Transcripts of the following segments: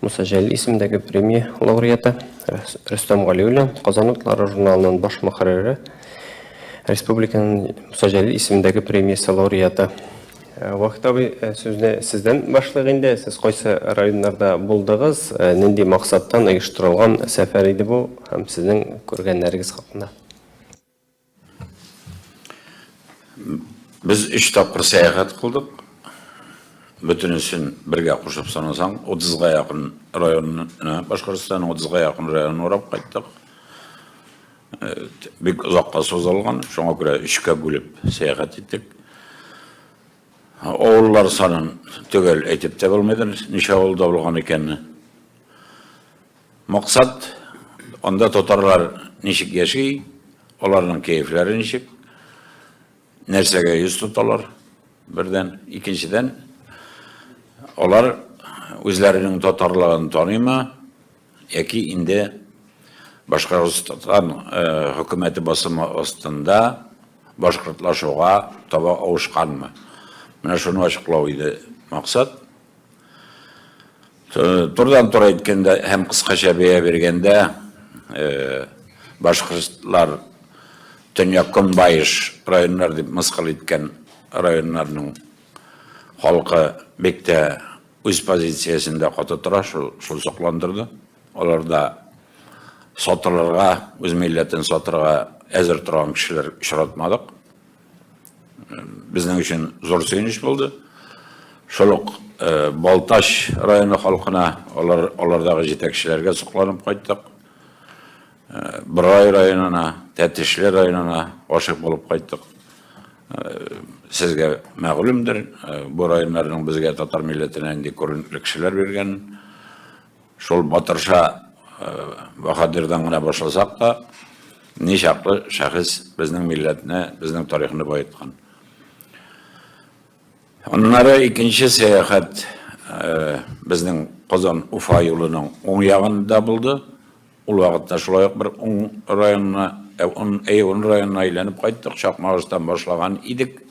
Муса Җәлил исемендәге премия лауреаты Рөстәм Галиуллин, Казан утлары журналының баш мөхәррире, республиканың Муса Җәлил исемендәге премиясе лауреаты. Э, Вахит абый, э, сүзне сездән башлыйк инде. Сез кайсы районнарда булдыгыз, э, нинди максаттан оештырылган сәфәр иде бу һәм сезнең күргәннәрегез хакында? Без өч тапкыр сәяхәт кылдык. Бөтенесен бергә кушып санасаң, 30га якын районны, Башкортстан 30га якын район урап кайттык. Бик озакка сузылган, шуңа күрә өчкә бүлеп сәяхәт иттек. Авыллар санын төгәл әйтеп тә булмыйдыр, ничә авылда булган икәнне. Максат, анда татарлар ничек яши, аларның кәефләре ничек, нәрсәгә йөз тоталар, бердән. Икенчедән, алар үзләренең татарлыгын таныймы, яки инде Башкортстан хөкүмәте басымы астында башкортлашуга таба авышканмы? Менә шуны ачыклау иде максат. Турдан тура әйткәндә һәм кыскача бәя биргәндә, башкортлар төньяк көнбаеш районнар дип мыскыл иткән районнарның халкы бик тә үз позициясендә каты тора, шул сокландырды. Алар да сатылырга, үз милләтен сатырга әзер торган кешеләр очратмадык. Безнең өчен зур сөенеч булды. Шул ук Балтач районы халкына, алар, алардагы җитәкчеләргә сокланып кайттык. Борай районына, Тәтешле районына гашык булып кайттык. Сезгә мәгълүмдер, бу районнарның безгә татар милләтенә нинди күренекле кешеләр биргәнен. Шул Батырша баһадирдан гына башласак та, ничаклы шәхес безнең милләтне, безнең тарихны баеткан. Аннары икенче сәяхәт безнең Казан Уфа юлының уң ягында булды. Ул вакытта шулай ук бер уң районына, әй уң районына әйләнеп кайттык, Чакмагыштан башлаган идек.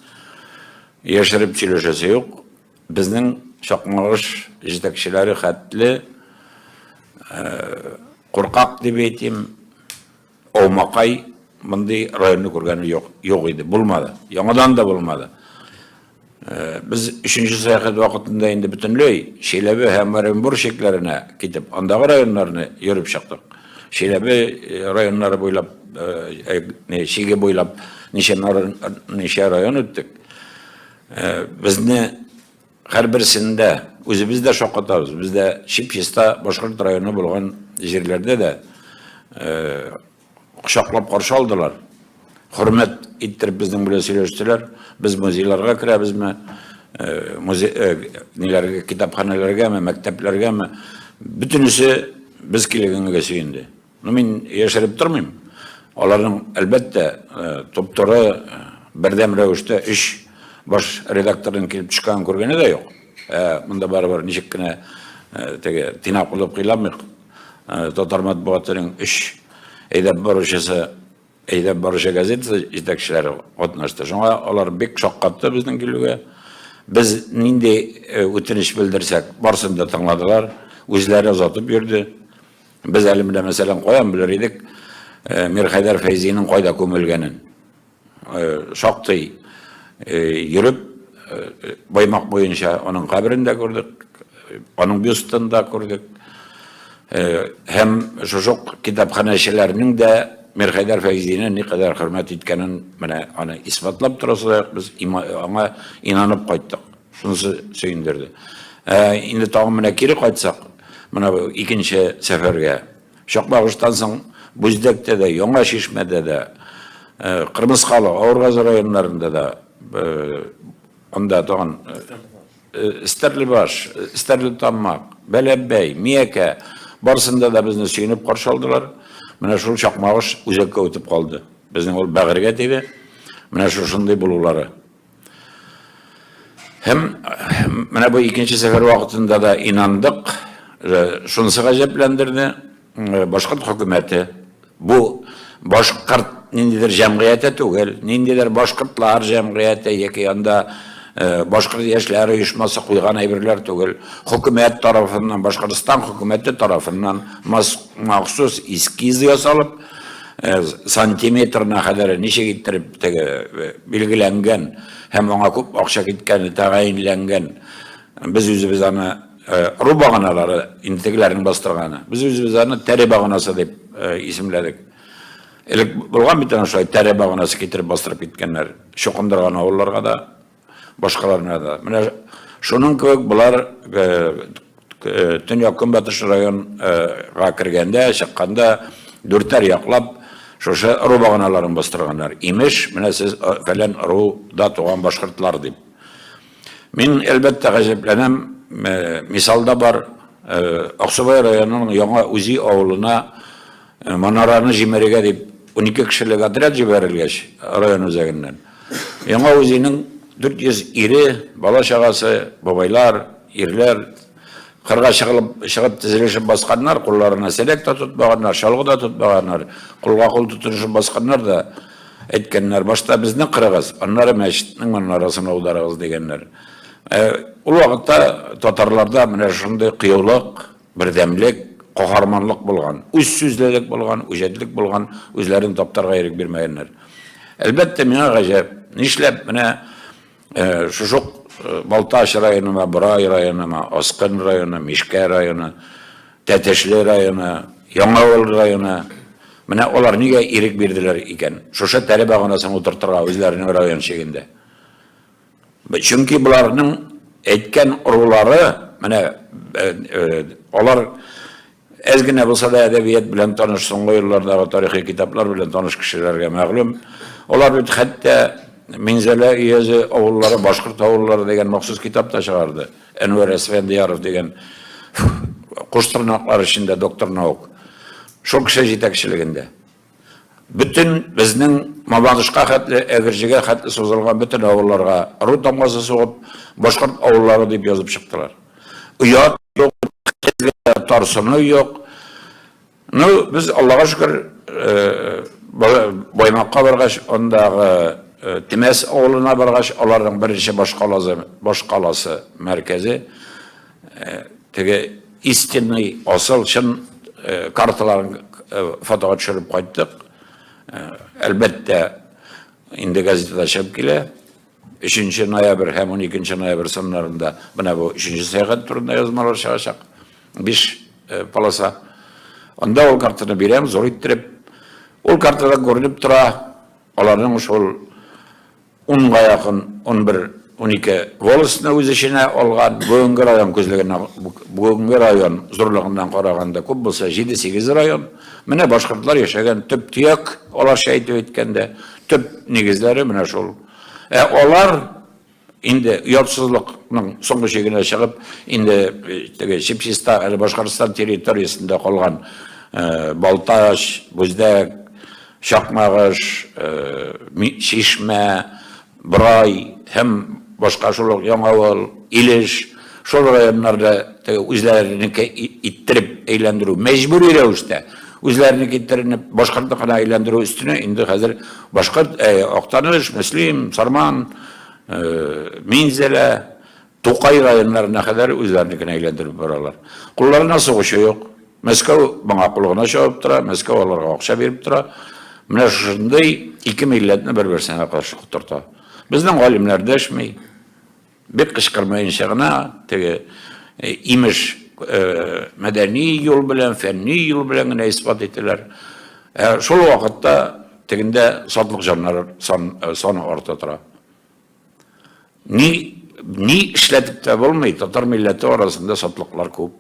Яшереп сөйләшәсе юк. Безнең чакмагыш җитәкчеләре хәтле куркак дип әйтим, аумакай мондый районны күргәне юк, юк иде, булмады. Яңадан да булмады. Без өченче сәяхәт вакытында инде бөтенләй Чиләбе һәм Оренбур чикләренә китеп, андагы районнарны йөреп чыктык. Чиләбе районнары буйлап, чиге буйлап ничә район үттек. Э, безне һәрберсен дә үзебез дә шаккатабыз без дә чип чиста башкорт районы булган җирләрдә дә э, кочаклап каршы алдылар хөрмәт иттереп безнең белән сөйләштеләр без музейларга керәбезме э, музей ниләргә китапханәләргәме мәктәпләргәме бөтенесе без килгәнгә сөенде Ну, мин яшереп тормыйм. Аларның, әлбәттә, топтыры бердәм рәвештә өч баш редакторның килеп төшкәнен күргәне дә юк. Ә монда барыбер ничек кенә теге тыйнак булып кыйламыйк. Татар матбугатының өч әйдәп баручысы, әйдәп баручы газетасы җитәкчеләре катнашты. Шуңа алар бик шаккатты безнең килүгә. Без нинди үтенеч белдерсәк, барсын да тыңладылар, үзләре озатып йөрде. Без әле менә мәсәлән каян белер идек э, Мирхәйдәр Фәйзинең кайда күмелгәнен. Э, шактый э, йөреп Баймак буенча аның каберен дә күрдек, аның бюстын да күрдек. Һәм шушук китапханәчеләрнең дә Мирхәйдәр Фәйзине никадәр хөрмәт иткәнен менә аны исбатлап торасы без аңа инанып кайттык. Шунысы сөендерде. Ә инде тагын менә кире кайтсак, менә бу икенче сәфәргә. Чакмагыштан соң Бүздәктә дә, Яңа Чишмәдә дә, Кырмыскалы, Авыргазы районнарында да, анда тагын Стәрлебаш, Стәрлетамак, Бәләбәй, Миякә, барысында да безне сөенеп каршы алдылар. Менә шул Чакмагыш үзәккә үтеп калды. Безнең ул бәгырьгә тиде. Менә шушындый булулары. Һәм менә бу икенче сәфәр вакытында да инандык, шунысы гаҗәпләндерде, башкорт хөкүмәте бу башкорт ниндидер җәмгыяте түгел, ниндидер башкортлар җәмгыяте яки анда башкорт яшьләре оешмасы куйган әйберләр түгел, хөкүмәт тарафыннан, Башкортстан хөкүмәте тарафыннан махсус эскиз ясалып, Э, сантиметрына кадәр ничек иттереп теге э, билгеләнгән һәм аңа күп акча киткәне тәгаенләнгән без үзебез аны э, ру баганалары интегләрен бастырганы без үзебез аны тәре баганасы дип исемләдек элек булган бит ана шулай тәре баганасы китереп бастырып киткәннәр чукындырган авылларга да Башкаларына да. Менә шуның кебек болар төньяк көнбатыш районга кергәндә, чыкканда дүртәр яклап шушы ыру баганаларын бастырганнар. Имеш, менә сез фәлән ыруда туган башкортлар дип. Мин, әлбәттә, гаҗәпләнәм. Мисалда бар, Аксубай районының Яңа Үзи авылына Манараны җимерергә дип унике кешелек отряд җибәрелгәч, район үзәгеннән, Яңа Үзенең 400 ире, бала-чагасы, бабайлар, ирләр кырга чыгылып, чыгып тезелешеп басканнар, кулларына сәләк тә тотмаганнар, чалгы да тотмаганнар, кулга-кул тотынышып басканнар да әйткәннәр, башта безне кырыгыз, аннары мәчетнең манарасын аударыгыз, дигәннәр. Ул вакытта татарларда менә шундый кыюлык, Бердәмлек, каһарманлык булган, үзсүзлелек булган, үҗәтлек булган, үзләрен таптарга ирек бирмәгәннәр. Әлбәттә, миңа гаҗәп, нишләп менә шушук Балтач районына, Борай районына, Аскын районы, Мишкә районы, Тәтешле районы, Яңавыл районы, менә алар нигә ирек бирделәр икән? Шушы тәре баганасын утыртырга үзләренең район чигендә. Чөнки боларның әйткән ырулары, менә алар әз генә булса да әдәбият белән таныш, соңгы еллардагы тарихи китаплар белән таныш кешеләргә мәгълүм. Алар бит хәтта Минзәлә өязе авыллары, башкорт авыллары дигән махсус китап та чыгарды. Әнвәр Әсфәндияров дигән куш тырнаклар эчендә доктор наук. Шул кеше җитәкчелегендә. Бөтен безнең Мабадышка хәтле, Әгерҗегә хәтле сузылган бөтен авылларга ыру тамгасы сугып, башкорт авыллары дип язып чыктылар. Оят юк, хезгә тарсыну юк. Ну, без, Аллага шөкер, Баймакка баргач, андагы Темәс авылына баргач, аларның беренче башкаласы, башкаласы, мәркәзе, Теге истинный, асыл, чын карталарын фотога төшереп кайттык. Әлбәттә, инде газетада чыгып килә. 3 ноябрь һәм 12 ноябрь саннарында менә бу 3 сәгать турында язмалар чыгачак. 5 полоса. Анда ул картаны бирәм, зур иттереп. Ул картада күренеп тора, аларның шул Унга якын, унбер, унике волостьны үз эченә алган, бүгенге район күзлегеннән, бүгенге район зурлыгыннан караганда күп булса, җиде-сигез район. Менә башкортлар яшәгән төп-төяк, аларча итеп әйткәндә, төп нигезләре менә шул. Ә алар инде оятсызлыкның соңгы чигенә чыгып, инде теге чип-чиста әле Башкортстан территориясендә калган Балтач, Бүздәк, Чакмагыш, Чишмә, Борай һәм башка шул ук Яңавыл, Илеш, шул районнарда теге үзләренеке иттереп әйләндерү, мәҗбүри рәвештә үзләренеке иттеренеп башкортныкына әйләндерү өстенә инде хәзер башкорт, Актаныш, Мөслим, Сарман, Минзәлә, Тукай районнарына кадәр үзләренекен әйләндереп баралар. Кулларына сугучы юк. Мәскәү моңа кул гына чабып тора, Мәскәү аларга акча биреп тора. Менә шушындый ике милләтне бер-берсенә каршы котырта. Безнең галимнәр дәшми, бик кычкырмаенча гына, теге, имеш, мәдәни юл белән, фәнни юл белән генә исбат итәләр. Ә шул вакытта тегендә сатлык җаннар саны арта тора. Ни, ни эшләтеп тә булмый, татар милләте арасында сатлыклар күп.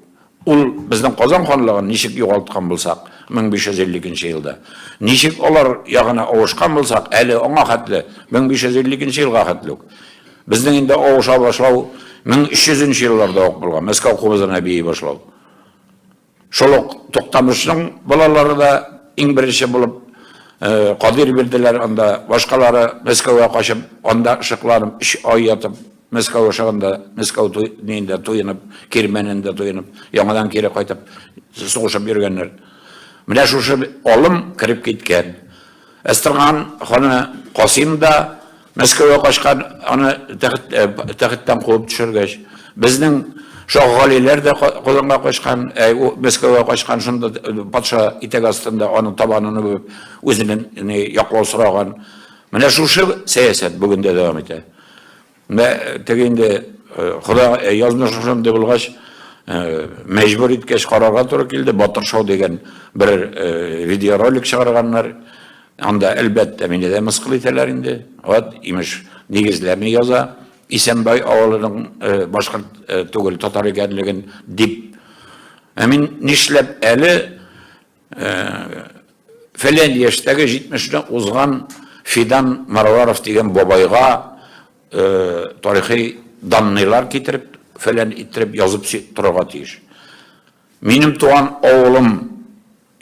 Ул безнең Казан ханлыгын ничек югалткан булсак, 1552 елда, ничек алар ягына авышкан булсак, әле аңа хәтле, 1552 елга хәтле үк. Безнең инде авыша башлау 1300 нче елларда ук булган, Мәскәү кубызына бии башлау. Шул ук Туктамышның балалары да иң беренче булып Кадыйр бирделәр анда, башкалары Мәскәүгә качып, анда шыкланып, өч ай ятып, Мәскәү ашаганда, Мәскәү туенда туенып, Кирмәнендә туенып, яңадан кире кайтып, сугышып йөргәннәр. Менә шушы алым кереп киткән. Әстерхан ханы Касим да Мәскәүгә качкан, аны тәхеттән куып төшергәч, безнең Шаһгалиләр дә Казанга качкан, Мәскәүгә качкан, шунда патша итәк астында аның табанын үбеп, үзеннән яклау сораган. Менә шушы сәясәт бүген дә дәвам итә. Менә теге инде Хода язмыш шундый булгач, мәҗбүр иткәч карарга туры килде. Батыр шау дигән бер видеоролик чыгарганнар. Анда, әлбәттә, мине дә мыскыл итәләр инде. Вот, имеш, нигезләрне яза. Исәнбай авылының э, башкорт э, түгел, татар икәнлеген дип. Ә мин нишләп әле э, фәлән яшьтәге 70-не узган Фидан Марваров дигән бабайга тарихи данныйлар китереп, фәлән иттереп язып торырга тиеш. Минем туган авылым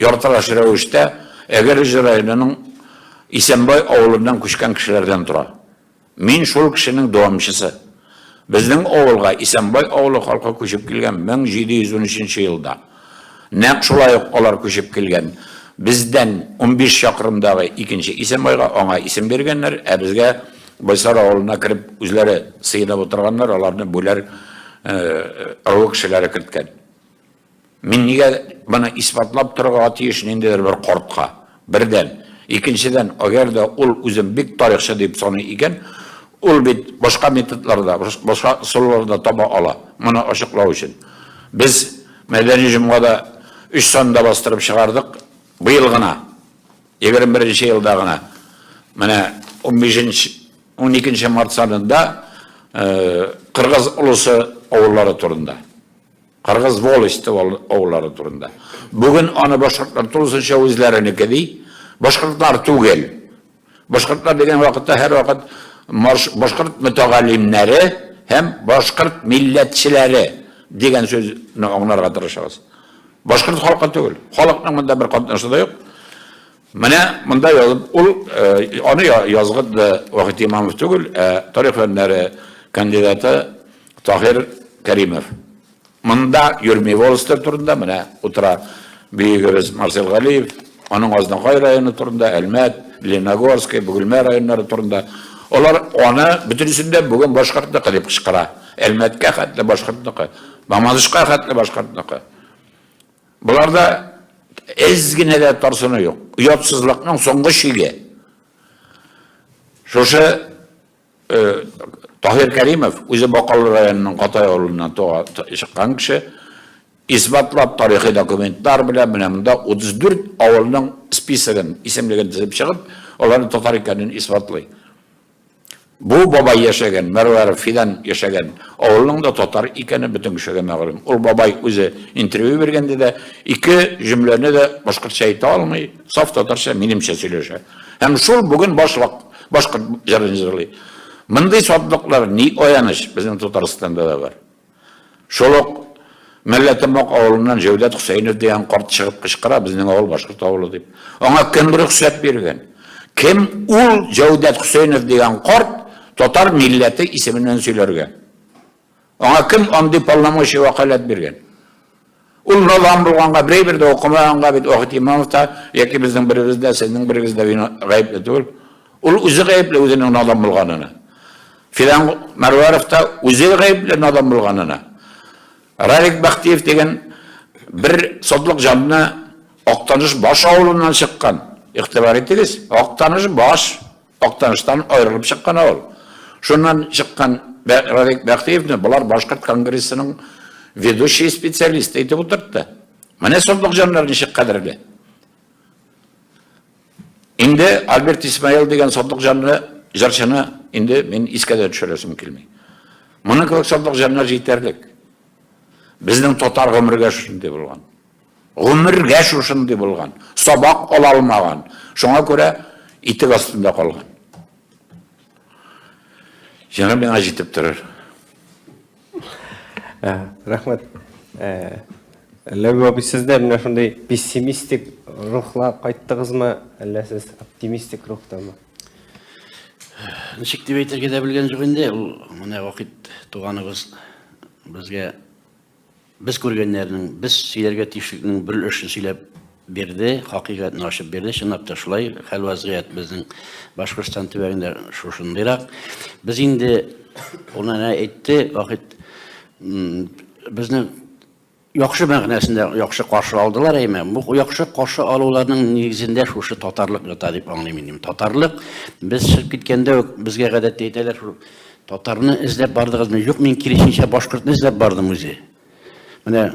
Яртылаш рәвештә Әгерҗе районының Исәнбай авылыннан күчкән кешеләрдән тора. Мин шул кешенең дәвамчысы. Безнең авылга Исәнбай авылы халкы күчеп килгән 1713 нче елда. Нәкъ шулай ук алар күчеп килгән. Бездән унбиш чакрымдагы икенче Исәнбайга аңа исем биргәннәр, ә безгә Байсар авылына кереп үзләре сыенып утырганнар, аларны Бүләр ырыуы кешеләре керткән. Мин нигә моны исбатлап торырга тиеш ниндидер бер кортка? Бердән, икенчедән, әгәр дә ул үзен бик тарихчы дип саный икән, ул бит башка методларда, башка ысулларда таба ала, моны ачыклау өчен. Без Мәдәни җомгада өч санда бастырып чыгардык, быел гына, егерме беренче елда гына, менә унбишенче, уникенче март санында Кыргыз олысы авыллары турында. Кыргыз волости авыллары турында. Бүген аны башкортлар тулысынча үзләренеке ди. Башкортлар түгел. Башкортлар дигән вакытта һәрвакыт башкорт мөтәгаллимнәре һәм башкорт милләтчеләре дигән сүзне аңларга тырышабыз. Башкорт халкы түгел. Халыкның монда бер катнашы да юк. Менә монда язып, ул аны язган да Вахит Имамов түгел, ә тарих фәннәре кандидаты Таһир Кәримов. Монда йөрми волостер турында, менә утыра биегебез Марсел Галиев, аның Азнакай районы турында, Әлмәт, Леногорский, Бөгелмә районнары турында. Алар аны бөтенесендә бүген башкортныкы дип кычкыра. Әлмәткә хәтле башкортныкы, Мамадышка хәтле башкортныкы. Боларда әз генә дә тарсыну юк. Оятсызлыкның соңгы чиге. Шушы э, Таһир Кәримов, үзе Бакалы районының Катай авылыннан чыккан кеше, исбатлап тарихи документлар белән менә монда 34 авылның списогын, исемлеген төзеп чыгып, аларның татар икәнен исбатлый. Бу бабай яшәгән, Мәрвәров Фидан яшәгән авылның да татар икәне бөтен кешегә мәгълүм. Ул бабай үзе интервью биргәндә дә ике җөмләне дә башкортча әйтә алмый, саф татарча, минемчә сөйләшә. Һәм шул бүген башлык башкорт җырын җырлый. Мондый сатлыклар, ни аяныч, безнең Татарстанда да бар. Шул ук Мәлләтембак авылыннан Җәүдәт Хөсәенов дигән карт чыгып кычкыра, безнең авыл башкорт авылы дип. Аңа кем рөхсәт биргән? Кем ул Җәүдәт Хөсәенов дигән карт татар милләте исеменнән сөйләргә? Аңа кем андый полномочия вәкаләт биргән? Ул налан булганга, берәй бер дә укымаганга бит Вахит Имамов та, яки безнең беребез дә, сезнең берегез дә гаепле түгел. Ул үзе гаепле үзенең надан булганына. Филан Мәрвәров та үзе гаепле надан булганына. Ралик Бәхтиев дигән бер сотлык җанны Актаныш баш авылыннан чыккан. Игътибар итегез, Актаныш баш Актаныштан аерылып чыккан авыл. Шуннан чыккан Радик Бәхтиевне болар башкорт конгрессының ведущий специалисты итеп утыртты. Менә сондык җаннар ничек кадерле. Инде Альберт Исмаил дигән сондык җанны, җырчыны инде мин искә дә төшерәсем килми. Моның кебек сондык җаннар җитәрлек. Безнең татар гомергә шундый булган. Гомергә шушындый булган, сабак ала алмаган. Шуңа күрә итек астында калган. Җаны миңа җитеп торыр. Ә, рәхмәт. Ә, Ләбиб абый, сез дә менә шундый пессимистик рухла кайттыгызмы, әллә сез оптимистик рухтамы? Ничек дип әйтергә дә белгән юк инде, ул менә вакыт туганыбыз безгә Без күргәннәрнең, без сөйләргә тиешлекнең бер өлешен сөйләп бирде, хакыйкатьне ачып бирде. Чынлап та шулай, хәл вазгыять безнең Башкортстан төбәгендә шушындыйрак. Без инде ул әнә әйтте, Вахит безне яхшы мәгънәсендә яхшы каршы алдылар әйме бу яхшы каршы алуларның нигезендә шушы татарлык ята дип аңлыйм мин татарлык без чыгып киткәндә үк безгә гадәттә әйтәләр шул Татарны эзләп бардыгызмы? Юк, мин киресенчә башкортны эзләп бардым үзе. Менә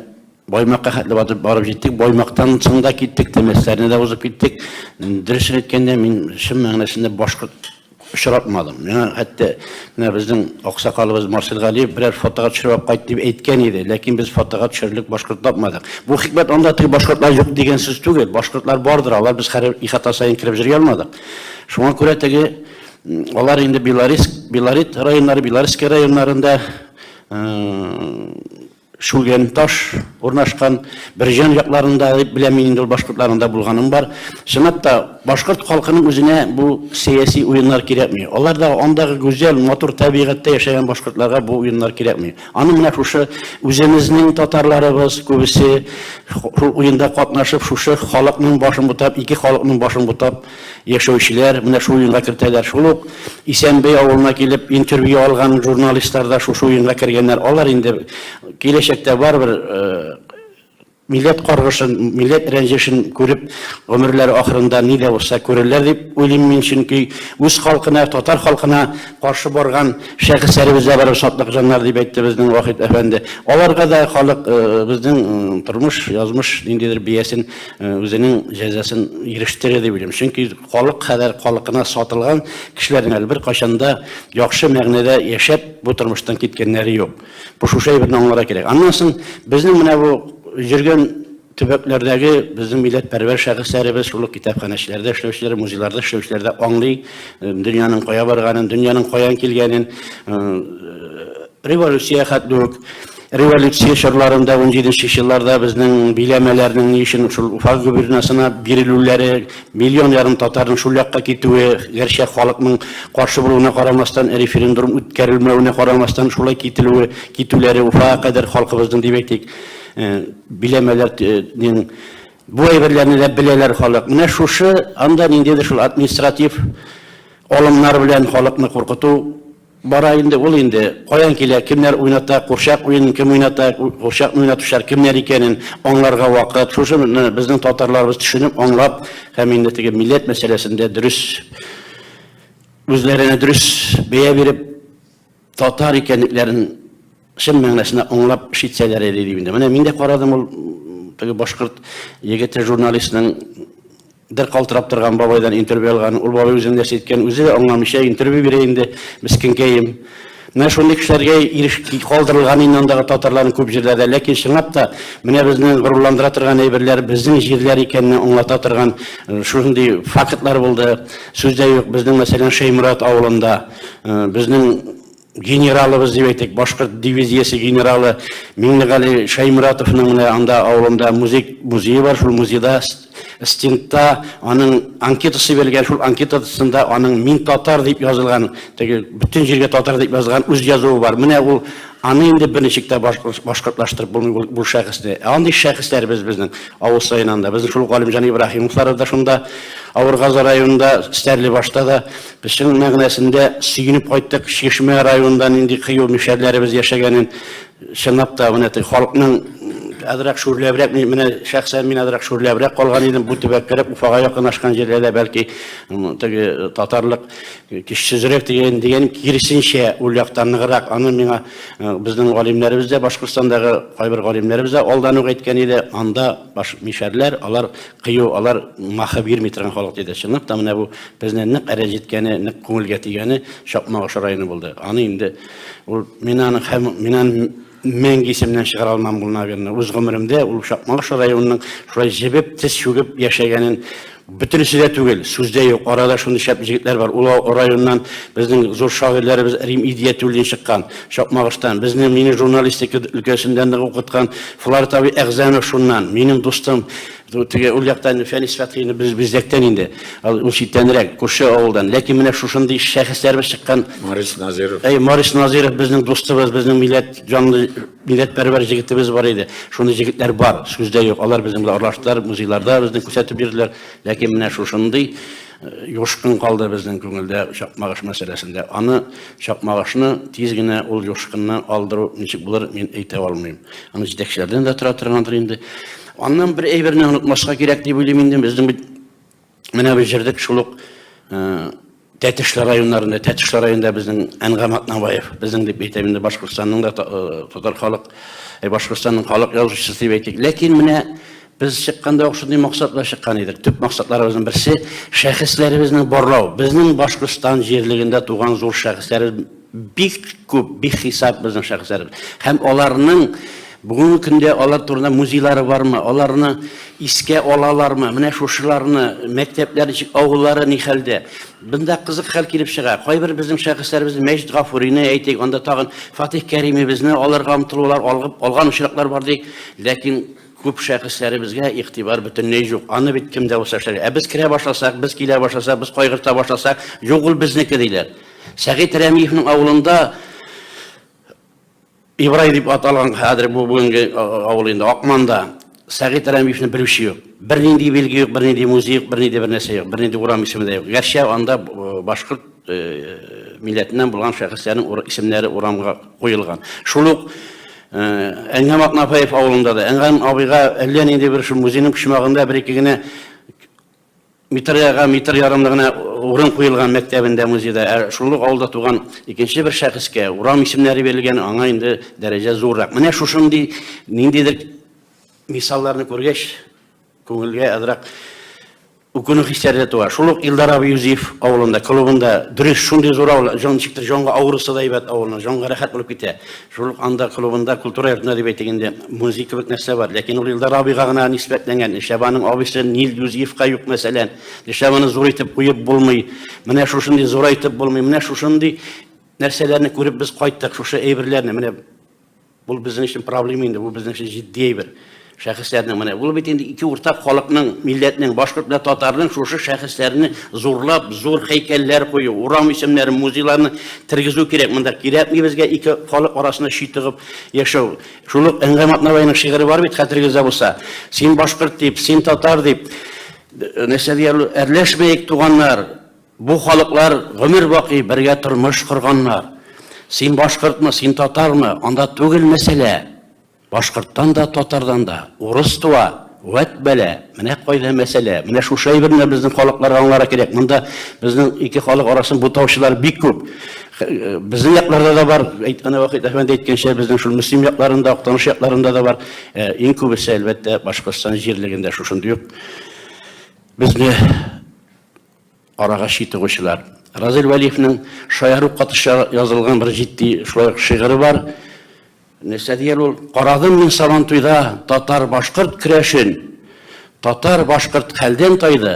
Баймакка хәтле батып барып җиттек. Баймактан соң да киттек, Тәмәсләрне дә узып киттек. Дөресен әйткәндә, мин чын мәгънәсендә башкорт очратмадым. Миңа хәтта менә безнең аксакалыбыз Марсель Галиев берәр фотога төшереп кайт дип әйткән иде, ләкин без фотога төшерлек башкорт тапмадык. Бу хикмәт анда теге башкортлар юк дигән сүз түгел. Башкортлар бардыр, алар без хәрәм ихата саен кереп җыри алмадык. Шуңа күрә теге Алар инде Белорис, Белорит районнары, Белорисский районнарында шүлген таш урнашкан Бирҗан якларында дип беләм инде ул башкортларында булганым бар. Чынлап та башкорт халкының үзенә бу сәяси уеннар кирәкми. Алар да андагы гүзәл, матур табигатьтә яшәгән башкортларга бу уеннар кирәкми. Аны менә шушы үзебезнең татарларыбыз күбесе шул уенда катнашып, шушы халыкның башын бутап, ике халыкның башын бутап, яшәүчеләр менә шул уенга кертәләр. Шул ук Исәнбей авылына килеп интервью алган журналистлар да шушы уенга кергәннәр. Алар инде киләчәктә барыбер милләт каргышын, милләт рәнҗешен күреп, гомерләре ахырында ни дә булса күрерләр дип уйлыйм мин, чөнки үз халкына, татар халкына каршы барган шәхесләребез дә бар, шатлык җаннар дип әйтте безнең Вахит әфәнде. Аларга да халык безнең тормыш, язмыш ниндидер биясен үзенең җәзасын ирештерә дип уйлыйм. Чөнки халык хәзер халыкына сатылган кешеләрнең әле беркайчан да яхшы мәгънәдә яшәп, бу тормыштан киткәннәре юк. Бу шушы әйберне аңларга кирәк. Аннан соң безнең менә бу йөргән төбәкләрдәге безнең милләтпәрвәр шәхесләребез, шул ук китапханәчеләрдә эшләүчеләр, музейларда эшләүчеләр дә аңлый дөньяның кая барганын, дөньяның каян килгәнен, революция хәтле үк. Революция чорларында, унҗиденче елларда безнең биләмәләрнең ни өчен шул Уфа губернасына бирелүләре, миллион ярым татарның шул якка китүе, гәрчә халыкның каршы булуына карамастан, референдурм үткәрелмәвенә карамастан шулай кителүе, китүләре Уфага кадәр халкыбызның, дип әйтик, биләмәләр нең бу әйберләрне дә беләләр халык. Менә шушы анда ниндидер шул административ алымнар белән халыкны куркыту Бара инде ул инде, каян килә, кемнәр уйната, курчак уенын кем уйната, курчакны уйнатучылар кемнәр икәнен аңларга вакыт. Шушыны безнең татарларыбыз төшенеп, аңлап һәм инде теге милләт мәсьәләсендә дөрес, үзләренә дөрес бәя биреп, татар икәнлекләрен, чын мәгънәсенә аңлап эш итсәләр иде дим инде. Менә мин дә карадым ул теге башкорт егете журналистның бер калтырап торган бабайдан интервью алган. Ул бабай үзен нәрсә әйткән, үзе дә аңламыйча интервью бирә инде, мескенкәем. Менә шундый кешеләргә иреш калдырылган инде андагы татарларның күп җирләрдә. Ләкин чынлап та менә безне горурландыра торган әйберләр безнең җирләр икәнне аңлата торган э, шундый фактлар булды. Сүз дә юк. Безнең мәсәлән Шәймурат авылында э, безнең генералыбыз дип әйтик, башкорт дивизиясе генералы Миңнегали Шәймуратовның менә анда авылында музей музее бар, шул музейда стендта аның анкетасы бирелгән, шул анкетасында аның мин татар дип язылган, теге бөтен җиргә татар дип язылган үз язуы бар. Менә ул аны инде берничек тә башкортлаштырып булмый бу шәхесне. Ә андый шәхесләребез безнең авыл саен анда. Безнең шул Галимҗан Ибраһимовлар да шунда, Авыргазы районында, Стәрлебашта да Чын мәгънәсендә сөенеп кайттык, Чишмә районында нинди кыю мишәрләребез яшәгәнен чынлап та менә теге халыкның азрак шүрләбрәк, менә шәхсән мин азрак шүрләбрәк калган идем, бу төбәк кереп Уфага якынашкан җирләрдә бәлки теге татарлык көчсезрәк дигән дигән киресенчә ул якта ныграк. Аны миңа безнең галимнәребез дә Башкортстандагы кайбер галимнәребез дә алдан ук әйткән иде, анда баш мишәрләр, алар Кыю, алар маһы бирми торган халык диде. Чынлап та, менә бу безне нык әрә җиткәне, нык күңелгә тигәне Чакмак аша районы булды. Аны инде ул мин аның һәм мин аны мәңге исемнән чыгара алмам ул, наверное. Үз гомеремдә ул Чакмак аша районының шулай җебеп, тез чүгеп яшәгәнен бөтенесе дә түгел, сүздә юк. Арада шундый шәп җегетләр бар. Ул районнан безнең зур шагыйрьләребез Рим Идиятуллин чыккан, Чакмагыштан. Безне, мине журналистика өлкәсендә нык укыткан Фларт абый Әгъзанов шуннан, минем дустым, теге ул яктан Фәнис Фәтхины без бизлектән инде, ул читтәнрәк, күрше авылдан. Ләкин менә шушындый шәхесләрбез чыккан. Марис Назиров. Әй, Марис Назиров безнең дустыбыз, безнең милләт җанлы, милләтпәрвәр җегетебез бар иде. Шундый җегетләр бар, сүздә юк. Алар безнең белән аралаштылар, музейларда безне күрсәтеп йөрделәр. Ләкин менә шушындый Юшкын калды безнең күңелдә Чакмагыш мәсьәләсендә. Аны, Чакмагышны, тиз генә ул юшкынны алдыру ничек булыр, мин әйтә алмыйм. Аны җитәкчеләрдән дә тора торгандыр инде. Аннан бер әйберне онытмаска кирәк дип уйлыйм инде. Безнең бит менә без җырдык шул ук Тәтешле районнарында, Тәтешле районында безнең Әнгам Атнабаев, безнең дип әйтәм инде Башкортстанның да татар халык, Башкортстанның халык язучысы дип әйтик. Ләкин менә Без чыкканда ук шундый максат белән чыккан идек. Төп максатларыбызның берсе шәхесләребезне барлау. Безнең Башкортстан җирлегендә туган зур шәхесләребез бик күп, бик хисап безнең шәхесләребез. Һәм аларның бүгенге көндә алар турында музейлары бармы, аларны искә алалармы, менә шушыларны, мәктәпләр ничек, авыллары ни хәлдә. Бында кызык хәл килеп чыга. Кайбер безнең шәхесләребез Мәҗит Гафурине әйтик, анда тагын Фатих Кәримебезне алырга омтылулар алган очраклар бар ди. Ләкин Күп шәхесләребезгә игътибар бөтенләй юк. Аны бит кем дә булса эшләр. Ә без керә башласак, без килә башласак, без кайгырта башласак, юк ул безнеке диләр. Сәгыйть Рәмиевнең авылында Ибрай дип ат алган хәзер бу бүгенге авыл инде Акманда. Сәгыйть Рәмиевне белүче юк. Бернинди билге юк, бернинди музей юк, бернинди бер нәрсә юк, бернинди урам исеме дә юк. Гәрчә анда башкорт милләтеннән булган шәхесләрнең исемнәре урамга куелган. Шул ук Әнгәм Атнафаев авылында да Әнгәм абыйга әллә нинди бер шул музейның почмагында бер-ике генә метрга метр ярымлы гына урын куелган мәктәбендә музейда ә шул ук авылда туган икенче бер шәхескә урам исемнәре бирелгән аңа инде дәрәҗә зуррак менә шушындый ниндидер мисалларны күргәч күңелгә әзрәк Үкенү хисләре дә туа. Шул ук Илдар абый Юзиф авылында, клубында, дөрес, шундый зур авыл, җан ничектер җанга авырысы да әйбәт авылның, җанга рәхәт булып китә. Шул ук анда клубында, культура йортында дип әйтик инде, музей кебек нәрсә бар. Ләкин ул Илдар абыйга гына нисбәтләнгән. Нишләп аның абыйсы Нил Юзифка юк, мәсәлән? Нишләп аны зур итеп куеп булмый? Менә шушындый зурайтып булмый. Менә шушындый нәрсәләрне күреп без кайттык, шушы әйберләрне. Менә. Бу безнең өчен проблема инде, бу безнең өчен җитди әйбер. Шәхесләрнең менә бу бит инде ике уртак халыкның, милләтнең, башкорт белән татарның шушы шәхесләрне зурлап, зур һәйкәлләр кую, урам исемнәрен, музейларны тергезү кирәк монда. Кирәкми безгә ике халык арасында чи тыгып яшәү. Шул ук Әнгә Матнабайның шигыре бар бит, хәтерегездә булса. Син башкорт дип, син татар дип, нәрсә диярлек, әрләшмәик, туганнар. Бу халыклар гомер бакый бергә тормыш корганнар. Син башкортмы, син татармы, анда түгел мәсьәлә. Башкорттан да, татардан да урыс туа, вәт бәла, менә кайда мәсьәлә. Менә шушы әйберне безнең халыклар аңларга кирәк. Монда безнең ике халык арасын бутаучылар бик күп. Безнең якларда да бар, әйткәне Вахит әфәнде әйткәнчә, безнең шул Мөслим якларында, Актаныш якларында да бар. Э, иң күбесе, әлбәттә, Башкортстан җирлегендә шушындый ук безне Арага чи тыгучылар. Разил Вәлиевнең шаяру катыша язылган бер җитди шулай ук шигыре бар. Нәрсә дияр ул? Карадым мин Сабантуйда татар-башкорт керәшен. Татар-башкорт хәлдән тайды,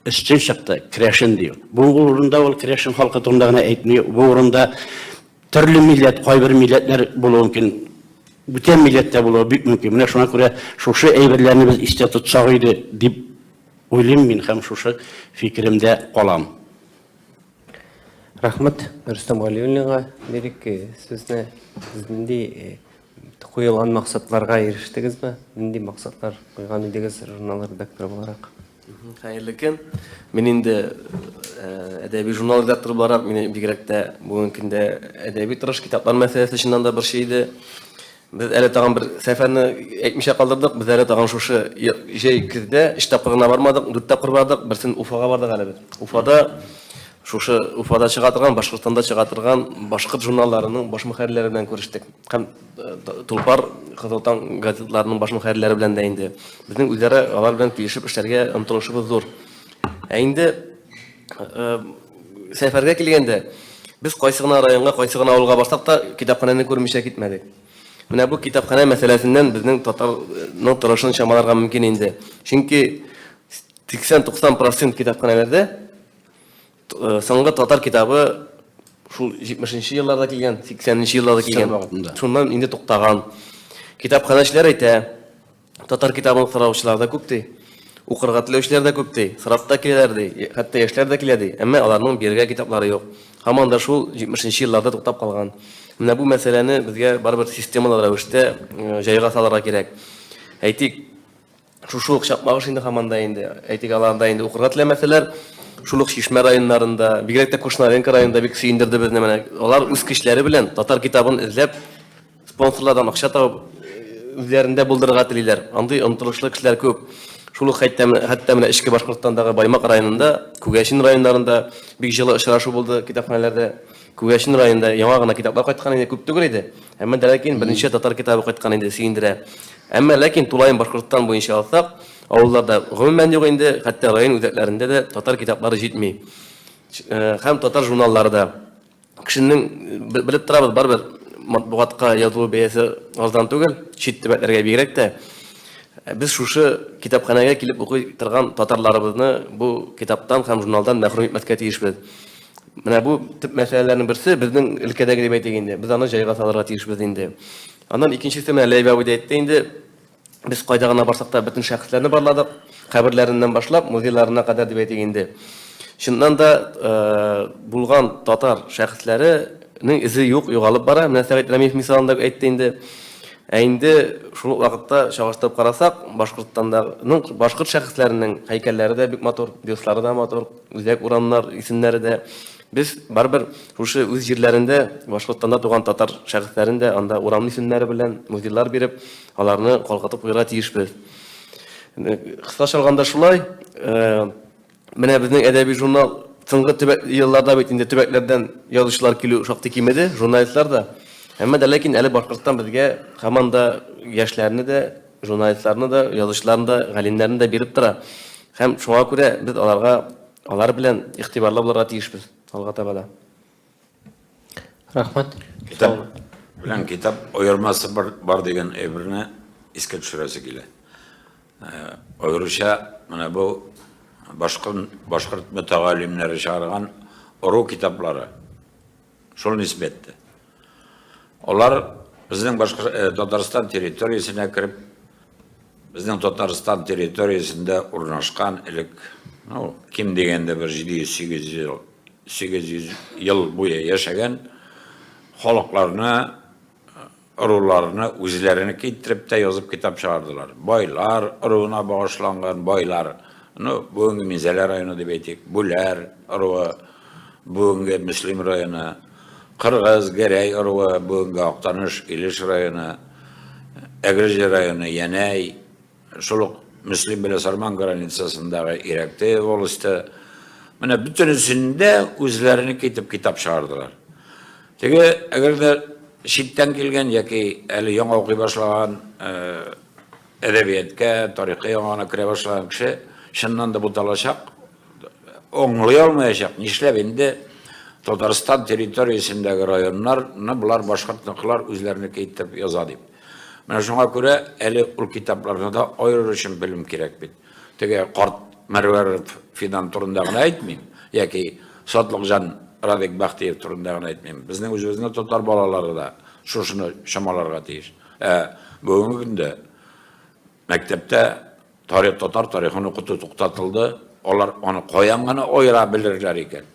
өстен чыкты, керәшен ди. Бу урында ул керәшен халкы турында гына әйтми, бу урында төрле милләт, кайбер милләтләр булуы мөмкин, бүтән милләттә булуы бик мөмкин. Менә шуңа күрә шушы әйберләрне без истә тотсак иде, дип Уйлыйм мин һәм шушы фикеремдә калам. Рәхмәт Рөстәм Галиуллинга. Лирик сүзне сез нинди куелган максатларга ирештегезме? Нинди максатлар куйган идегез журнал редакторы буларак? Хәерле көн. Мин инде әдәби журнал редакторы буларак, мине бигрәк тә бүгенге көндә әдәби тырыш китаплар мәсьәләсе чыннан да борчый иде. Без әле тагын бер сәфәрне әйтмичә калдырдык. Без әле тагын шушы җәй көздә өч тапкырына бармадык, дүрт тапкыр бардык. Берсен Уфага бардык әле без. Уфада шушы Уфада чыга торган, Башкортстанда чыга торган башкорт журналларының баш мөхәррирләре белән күрештек. Һәм э, Тулпар, Кызыл таң газетларының баш мөхәррирләре белән дә инде. Безнең үзара алар белән килешеп эшләргә омтылышыбыз зур. Ә инде Сәфәргә килгәндә, без кайсы гына районга, кайсы гына авылга барсак та, китапханәне күрмичә китмәдек. Менә бу китапханә мәсьәләсеннән безнең татарның торышын чамаларга мөмкин инде. Чөнки 80-90% китапханәләрдә э, соңгы татар китабы шул 70-нче елларда килгән, 80-нче елларда килгән. Шуннан инде туктаган. Китапханәчеләр әйтә, Татар китабын караучылар да күп ди. Укырга теләүчеләр дә күп ди. Сорап та киләләр ди. Хәтта яшьләр дә килә ди. Әмма аларның бирергә китаплары юк. Һаман да шул 70 нче елларда туктап калган. Менә бу мәсьәләне безгә барыбер системалы рәвештә җайга салырга кирәк. Әйтик, шушы ук чакмагыш инде һаман да инде. Әйтик, аларда инде укырга теләмәсәләр, шул ук Чишмә районнарында, бигрәк тә Кушнаренко районында бик сөендерде безне менә. Алар үз көчләре белән татар китабын эзләп, Спонсорлардан акча табып, үзләрендә булдырырга телиләр. Андый омтылышлы кешеләр күп. Шул ук хәтта менә эчке Башкортстандагы Баймак районында, Күгәчен районнарында бик җылы очрашу булды китапханәләрдә. Күгәчен районында яңа гына китаплар кайткан иде, күп түгел иде. Әмма дә ләкин берничә татар китабы кайткан иде, сөендерә. Әмма ләкин тулаем Башкортстан буенча алсак, авылларда гомумән юк инде, хәтта район үзәкләрендә дә татар китаплары җитми. Һәм татар журналлары да. Кешенең, белеп торабыз, барыбер матбугатка язылу бәясе арзан түгел, чит төбәкләргә бигрәк тә. Без шушы китапханәгә килеп укый торган татарларыбызны бу китаптан һәм журналдан мәхрүм итмәскә тиешбез. Менә бу төп мәсьәләләрнең берсе, безнең өлкәдәге дип әйтик инде, без аны җайга салырга тиешбез инде. Аннан икенчесе, менә Ләйбәви дә әйтте инде, Без кайда гына барсак та, бөтен шәхесләрне барладык, каберләреннән башлап, музейларына кадәр дип әйтик инде. Чыннан да, булган татар шәхесләренең эзе юк, югалып бара. Менә Сәгыйть Рәмиев мисалын да әйтте инде. Ә инде шул ук вакытта чагыштырып карасак, Башкортстанның башкорт шәхесләренең һәйкәлләре дә бик матур, бюстлары да матур, үзәк урамнар исемнәре дә Без, барыбер, шушы үз җирләрендә Башкортстанда туган татар шәхесләрен дә анда урам исемнәре белән музейлар биреп, аларны калкытып куярга тиешбез. Кыскача алганда шулай. Менә безнең әдәби журнал соңгы төбәк елларда бит инде төбәкләрдән язучылар килү шактый кимеде, журналистлар да. Әмма дә ләкин әле Башкортстан безгә һаман да яшьләрне дә, журналистларны да, язучыларны да, галимнәрне дә биреп тора. Һәм шуңа күрә без аларга Алар белән игътибарлы булырга тиешбез алга таба да. Рәхмәт. Китап белән китап аермасы бар, бар дигән әйберне искә төшерәсе килә. Э, аеруча менә бу башкорт башкорт мөтәгалимнәре чыгарган ору китаплары Шул нисбәттә. Алар безнең башка э, Татарстан территориясенә кереп, безнең Татарстан территориясендә урнашкан элек, ну, ким дигәндә бер 700-800 ел, 800 ел буе яшәгән халыкларны ыруларны үзләренеке иттереп тә язып китап чыгардылар. Байлар ыруына багышланган байлар, ну, бүгенге Минзәлә районы дип әйтик, Бүләр ыруы, бүгенге Мөслим районы, Кыргыз, Гәрәй ыруы, бүгенге Актаныш, Илеш районы, Әгерҗе районы, Янәй, Шул ук Мөслим белән Сарман границасындагы Ирәкте волосте. Менә бөтенесендә үзләренеке итеп китап чыгардылар. Теге, әгәр дә читтән килгән яки әле яңа укый башлаган әдәбияткә, тарихка яңа гына керә башлаган кеше, чыннан да буталачак. Оңлый алмаячак, нишләп инде Татарстан территориясендәге районнарны болар башкортныкылар үзләренеке итеп яза дип. Менә шуңа күрә әле ул китапларны да айырыр өчен белем кирәк бит. Теге карт Мәрвәров Фидан турында гына әйтмим, яки Сатлыкҗан Радик Бахтиев турында гына әйтмим. Безнең үзебезнең татар балалары да шушыны чамаларга тиеш. Ә бүгенге көндә Мәктәптә тарих, татар тарихын укыту туктатылды. Алар аны каян гына аера белерләр икән?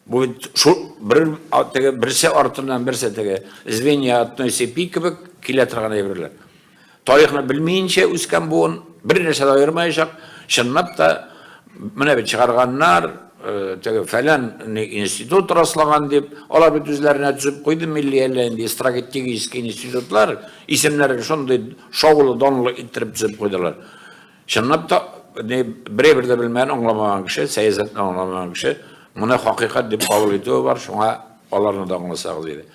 Бу бит шул бер теге берсе артыннан берсе теге звенья одной цепи кебек килә торган әйберләр. Тарихны белмиенчә үскән буын бер нәрсә дә аермаячак. Чынлап та Менә бит чыгарганнар, теге фәлән институт раслаган дип, алар бит үзләренә төзеп куйды милли әллә инде стратегический институтлар, исемнәрен шундый шаулы данлы иттереп төзеп куйдылар. Чынлап та, не бер-бер дә белмәгән, аңламаган кеше, сәясәтне аңламаган кеше, моны хакыйкать дип кабул итүе бар, шуңа аларны да аңласагыз иде.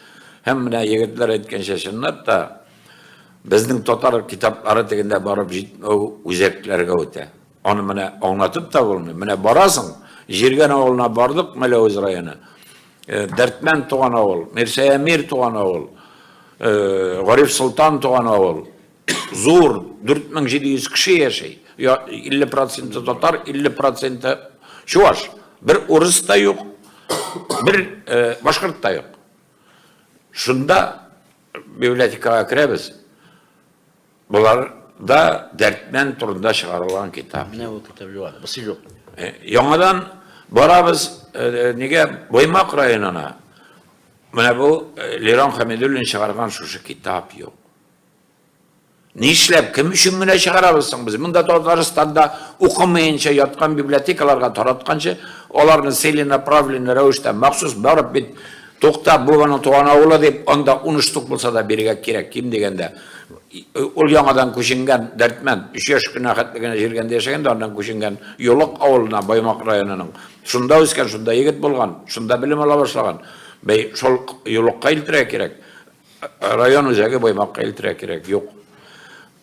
Һәм менә егетләр әйткәнчә чынлап та безнең татар китаплары тегендә барып җитмәү үзәкләргә үтә. Аны менә аңлатып та булмый. Менә барасың, Җиргән авылына бардык, Мәләвез районы. Э, Дәртмән туган авыл, Мирсәямир туган авыл, э, Гариф Солтан туган авыл. Зур, 4700 кеше яшәй. 50% татар, 50% чуваш. Бер урыс та юк, бер э, башкорт та юк. Шунда библиотекага керәбез. Болар да дәртнән турында чыгарылган китап. Менә бу китап юк, бусы юк. Э, яңадан барабыз э, нигә Баймак районына. Менә бу э, Лерон Хамидуллин чыгарган шушы китап юк. Нишләп, кем өчен генә чыгарабыз соң без? Монда Татарстанда укымаенча яткан библиотекаларга таратканчы, аларны целенаправленный рәвештә махсус барып бит, тукта, бу аның туган авылы дип, анда 10 штук булса да бирергә кирәк, ким дигәндә. Ул яңадан күченгән Дәрдмәнд, өч яшь кенә хәтле генә җиргәндә яшәгән дә, аннан күченгән Йолык авылына, Баймак районының. Шунда үскән, шунда егет булган, шунда белем ала башлаган. Бәй, шул Йолыкка илтерә кирәк. Район үзәге Баймакка илтерә кирәк. Юк.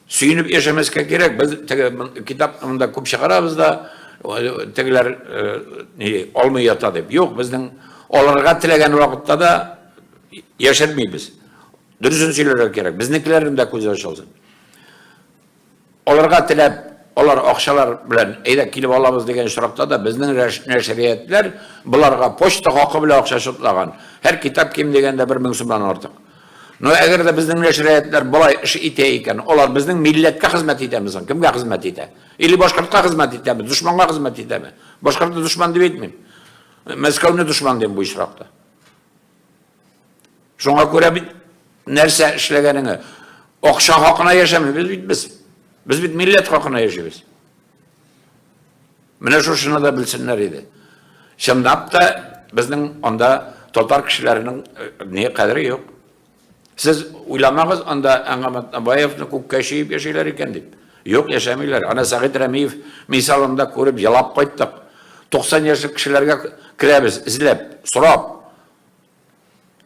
Сөенеп яшәмәскә кирәк. Без теге китапны монда күп чыгарабыз да, тегеләр алмый ята дип. Юк, безнең алырга теләгән вакытта да яшермибез. Дөресен сөйләргә кирәк. Безнекеләрнең дә күзе ачылсын. Аларга теләп, алар акчалар белән әйдә килеп алабыз дигән очракта да безнең нәшриятләр боларга почта хакы белән акча шотлаган. Һәр китап ким дигәндә 1000 сумнан артык. Но әгәр дә безнең нәшриятләр болай эш итә икән, алар безнең милләткә хезмәт итәме соң? Кемгә хезмәт итә? Или башкортка хезмәт итәме? Дошманга хезмәт итәме? Башкортны дошман дип әйтмим. Мәскәүне дошман дим бу очракта. Шуңа күрә бит нәрсә эшләгәнеңе, акча хакына яшәмибез бит без. Без бит милләт хакына яшибез. Менә шушыны да белсеннәр иде. Чынлап та безнең анда татар кешеләренең э, не кадере юк. Сез уйламагыз анда Әңгәмәт Абаевны күккә чөеп яшиләр икән дип. Юк, яшәмиләр. Ана Сәгыйть Рәмиев мисалында күреп елап кайттык. 90 яшьлек кешеләргә керәбез, эзләп, сорап.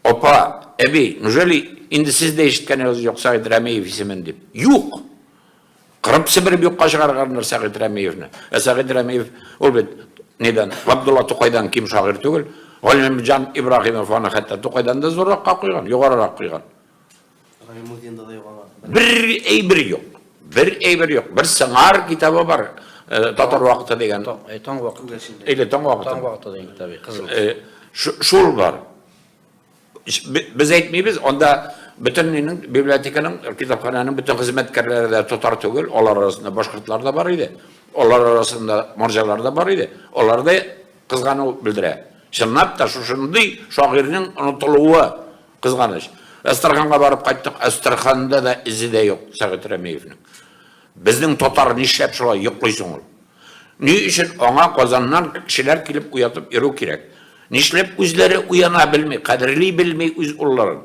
Апа, әби, неужели инде сез дә ишеткәнегез юк Сәгыйть Рәмиев исемен дип? Юк! Кырып себереп юкка чыгарганнар Сәгыйть Рәмиевне. Ә Сәгыйть Рәмиев ул бит недән, Габдулла Тукайдан ким шагыйрь түгел. Галимҗан Ибраһимов аны хәтта Тукайдан да зурракка куйган, югарырак куйган. Гайнетдинда да юк аңа. Бер әйбер юк. Бер әйбер юк. Бер сыңар китабы бар. Э, Татар вакыты дигән. Э, таң вакыты. Или таң вакыты. Таң вакыты дигән китабы. Кызыл. Э, шул бар. Без әйтмибез, анда бөтеннең библиотеканың, китапхананың бөтен хезмәткәрләре дә татар түгел, алар арасында башкортлар да бар иде. Алар арасында марҗалар да бар иде. Алар да кызгану белдерә. Чынлап та шушындый шагыйрьнең онытылуы Кызганыч. Әстерханга барып кайттык, Әстерханда да эзе дә юк Сәгыйть Рәмиевнең. Безнең татар нишләп шулай йоклый соң ул? Ни өчен аңа Казаннан кешеләр килеп уятып йөрү кирәк? Нишләп үзләре уяна белми, кадерли белми үз улларын?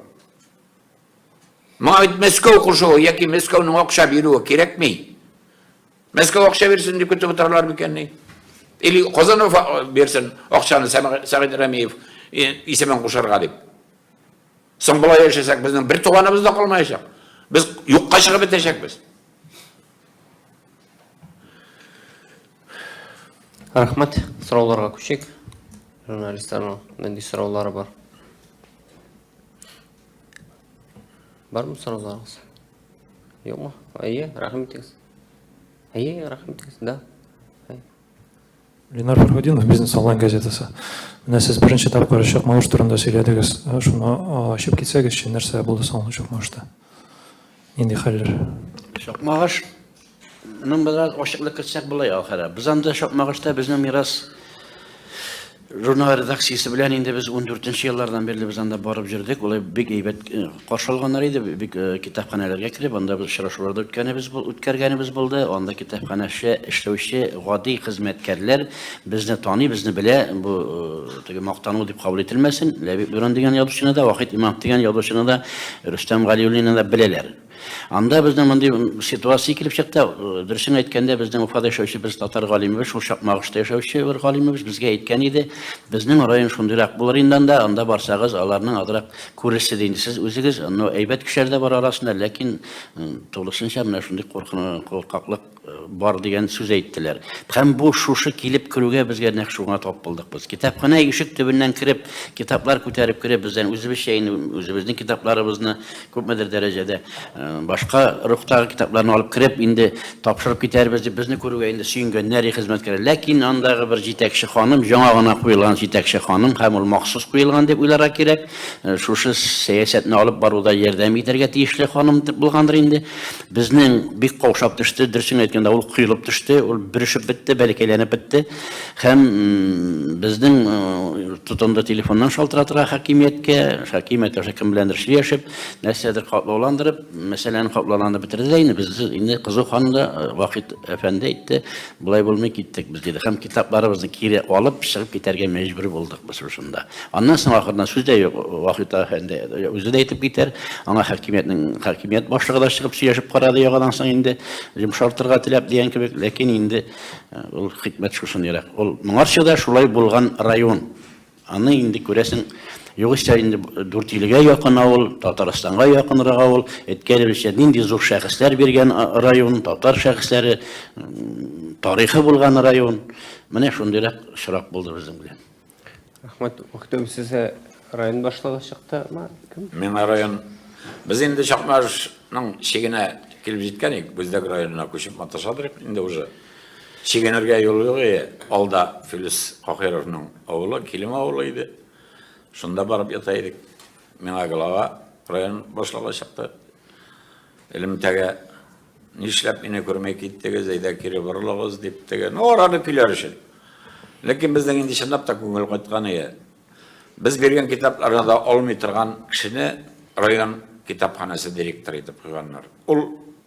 Моңа бит Мәскәү кушуы яки Мәскәүнең акча бирүе кирәкми. Мәскәү акча бирсен дип көтеп утыралар микәнни? Или Казанов бирсен акчаны Сәгыйть Рәмиев исемен кушарга дип. Соң болай яшәсәк, безнең бер туганыбыз да калмаячак. Без юкка чыгып бетәчәкбез. Рәхмәт, сорауларга күчик. Журналистларның нинди сораулары бар? Бармы сорауларыгыз? Юкмы? Әйе, рәхмәт итегез. Әйе, рәхмәт итегез, да. Ленар Фәрхудинов, бизнес онлайн газетасы. Менә сез беренче тапкыр чык мавыш турында сөйләдегез. Шуны ачып китсәгез, нәрсә булды соң чык мавышта? Нинди хәлләр? Чык мавыш Ның бераз ачыклык керсәк булай ахыры. Без анда чык мавышта безнең мирас Журнал редакциясе белән инде без 14 еллардан бирле без анда барып җөрдек. Улай бик әйбәт э, каршы алганнар иде. Бик э, китапханәләргә кереп, анда без очрашулар да үткәнебез үткәргәнебез булды. Анда китапханәче эшләүче гади хезмәткәрләр безне таный, безне белә. Бу э, теге мактану дип кабул ителмәсен. Ләбиб Дуран дигән язучыны да, Вахит Имам дигән язучыны да, Рөстәм Галиуллинны да беләләр. Анда безнең мондый ситуация килеп чыкты. Дөресен әйткәндә, безнең Уфада яшәүче без татар галимебез, шул Чакмагышта яшәүче бер галимебез безгә әйткән иде, безнең район шундыйрак булыр инде анда, анда барсагыз, аларның азрак күрерсез инде сез үзегез, но әйбәт кешеләр дә бар арасында, ләкин тулысынча менә шундый куркаклык бар дигән сүз әйттеләр. Һәм бу шушы килеп керүгә безгә нәкъ шуңа тап булдык без. Китапханә ишек төбеннән кереп, китаплар күтәреп кереп, бездән үзебезчә инде үзебезнең китапларыбызны күпмедер дәрәҗәдә э, башка рухтагы китапларны алып кереп, инде тапшырып китәрбез дип безне күрүгә инде сөенгәннәр хезмәткәр. Ләкин андагы бер җитәкче ханым, яңа гына куелган җитәкче ханым һәм ул махсус куелган дип уйларга кирәк. Э, шушы сәясәтне алып баруда ярдәм итәргә тиешле ханым булгандыр инде. Безнең бик каушап төште, дөресен әйткәндә, ул коелып төште, ул бөрешеп бетте, бәләкәйләнеп бетте. Һәм безнең тотынды телефоннан шалтыратырга хакимияткә, хакимия тоже кем беләндер сөйләшеп, нәрсәдер катлауландырып, мәсьәләне катлауландырып бетерде дә инде без инде кызу ханымда Вахит әфәнде әйтте, Болай булмый киттек без, диде. Һәм китапларыбызны кире алып, чыгып китәргә мәҗбүр булдык без шушында. Аннан соң ахырдан сүз дә юк, Вахит әфәнде үзе дә әйтеп китәр. Аңа хакимиятнең хакимият башлыгы да чыгып сөйләшеп карады яңадан соң инде, йомшартырга теләп дигән кебек, ләкин инде ул хикмәт шушындыйрак. Ул моңарчы да шулай булган район. Аны инде күрәсең, югыйсә инде Дүртилегә якын авыл, Татарстанга якынрак авыл, Эткәревичә нинди зур шәхесләр биргән район, татар шәхесләре, тарихы булган район. Менә шундыйрак очрак булды безнең белән. Рәхмәт. Мөхтәм сезгә район башлыгы чыкты, ма кем? Миңа район. Без инде Чакмарышның чигенә килеп җиткән идек, Бүздәк районына күчеп маташадыр инде уже. Чигенергә юл юк и, алда Филүс Каһировның авылы, Килем авылы иде. Шунда барып ята идек. Миңа глава район башлыгы чыкты. Элемтәгә нишләп мине күрмәй киттегез, әйдә кире борылыгыз дип теге. Ну, араны көйләр өчен. Ләкин безнең инде чынлап та күңел кайткан иде. Без биргән китапларны да алмый торган кешене район китапханәсе директоры итеп куйганнар. Ул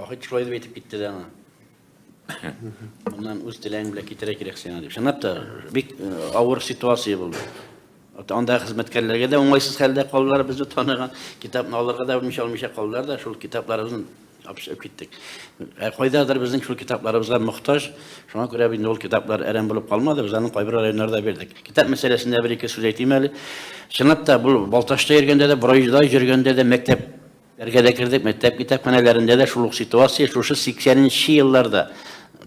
Ахыт шулай дип әйтеп китте дә аңа. Моннан үз теләң белән китерә кирәк сиңа дип. Чынлап та бик э, авыр ситуация булды. Анда хезмәткәрләргә дә уңайсыз хәлдә калдылар безне таныган. Китапны алырга да белмичә алмыйча калдылар да шул китапларыбызны апшып киттек. Ә кайдадыр безнең шул китапларыбызга мохтаж. Шуңа күрә инде ул китаплар әрәм булып калмады, без аны кайбер районнарда бирдек. Китап мәсьәләсендә бер ике сүз әйтим әле. Чынлап та бу Балташта йөргәндә дә, Борайда йөргәндә дә мәктәп Бергә дә кердек, мәктәп китапханәләрендә дә шул ук ситуация, шушы 80 нче елларда,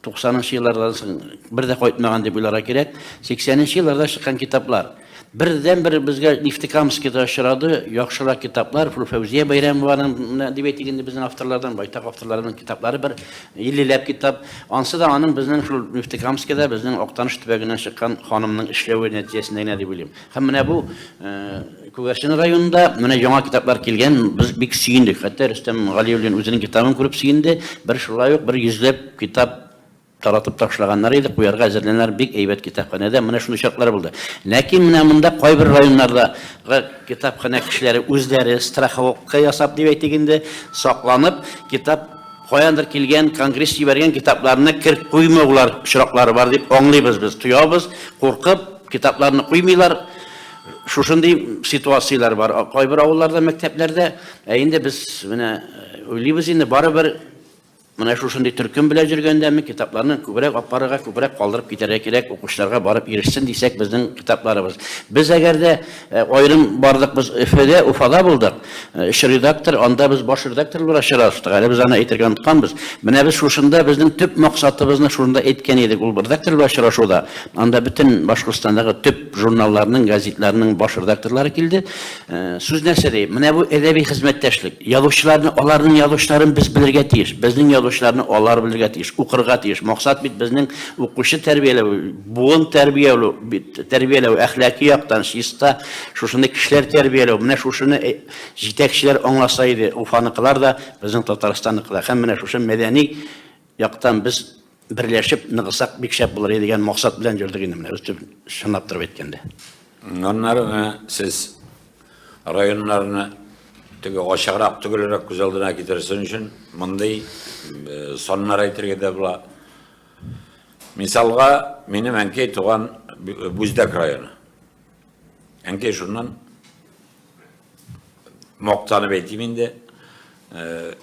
90 нчы еллардан соң бер дә кайтмаган дип уйларга кирәк, 80 нчы елларда чыккан китаплар. Бердәнбер безгә Нефтекамскида очрады, яхшырак китаплар, шул Фәүзия Бәйрәмованың менә әдәбият игенде безнең авторлардан, байтак авторларның китаплары бер 50 ләп китап. Ансы да аның безнең шул Нефтекамскида, безнең Актаныш төбәгеннән чыккан ханымның эшләве нәтиҗәсендә генә дип уйлыйм. Һәм менә бу Күгәрчен районында менә яңа китаплар килгән, без бик сөендек. Хәтта Рөстәм Галиуллин үзенең китабын күреп сөенде. Бер шулай ук бер йөзләп китап таратып ташлаганнар иде, куярга әзерләнәләр, бик әйбәт китапханәдә, менә шундый чаклар булды. Ләкин менә монда кайбер районнардагы китапханә кешеләре үзләре страховка ясап дип әйтик инде, сакланып, китап каяндыр килгән, конгресс җибәргән китапларны керт куймаулар очраклары бар дип аңлыйбыз без, тоябыз, куркып, Китапларны куймыйлар. Шушындый ситуацияләр бар. Кайбер авылларда, мәктәпләрдә, ә инде без менә э, уйлыйбыз инде барыбер менә шушындый төркем белән йөргәндәме китапларны күбрәк алып барырга, күбрәк калдырып китәргә кирәк, укучыларга барып ирешсен дисәк, безнең китапларыбыз. Без әгәр дә Аерым бардык без Өфөдә, Уфада булдык. Өч редактор, анда без баш редактор буларак чыраштык. Әле без аны әйтергә онытканбыз. Менә без шушында безнең төп максатыбызны шушында әйткән идек, ул редактор белән очрашуда. Анда бөтен Башкортстандагы төп журналларның, газетларның баш редакторлары килде. Сүз нәрсә ди? Менә бу әдәби хезмәттәшлек. Язучыларны, аларның язучыларын без белергә тиеш. Безнең язучыларны алар белергә тиеш, укырга тиеш. Максат бит безнең укучы тәрбияләү, буын тәрбияләү бит. Тәрбияләү, әхлаки яктан чиста, шушындый кешеләр тәрбияләү, менә шушыны җитәкчеләр аңласа иде, Уфаныкылар да, безнең Татарстанныкылар. Һәм менә шушы мәдәни яктан без берләшеп ныгысак, бик шәп булыр иде дигән максат белән йөрдек инде менә, чынлап торып әйткәндә. Аннары менә сез районнарны теге ачыграк, төгәлрәк күз алдына китерсен өчен, мондый саннар әйтергә дә була. Мисалга, минем әнкәй туган Бүздәк районы. Әнкәй шуннан мактанып әйтим инде. Э,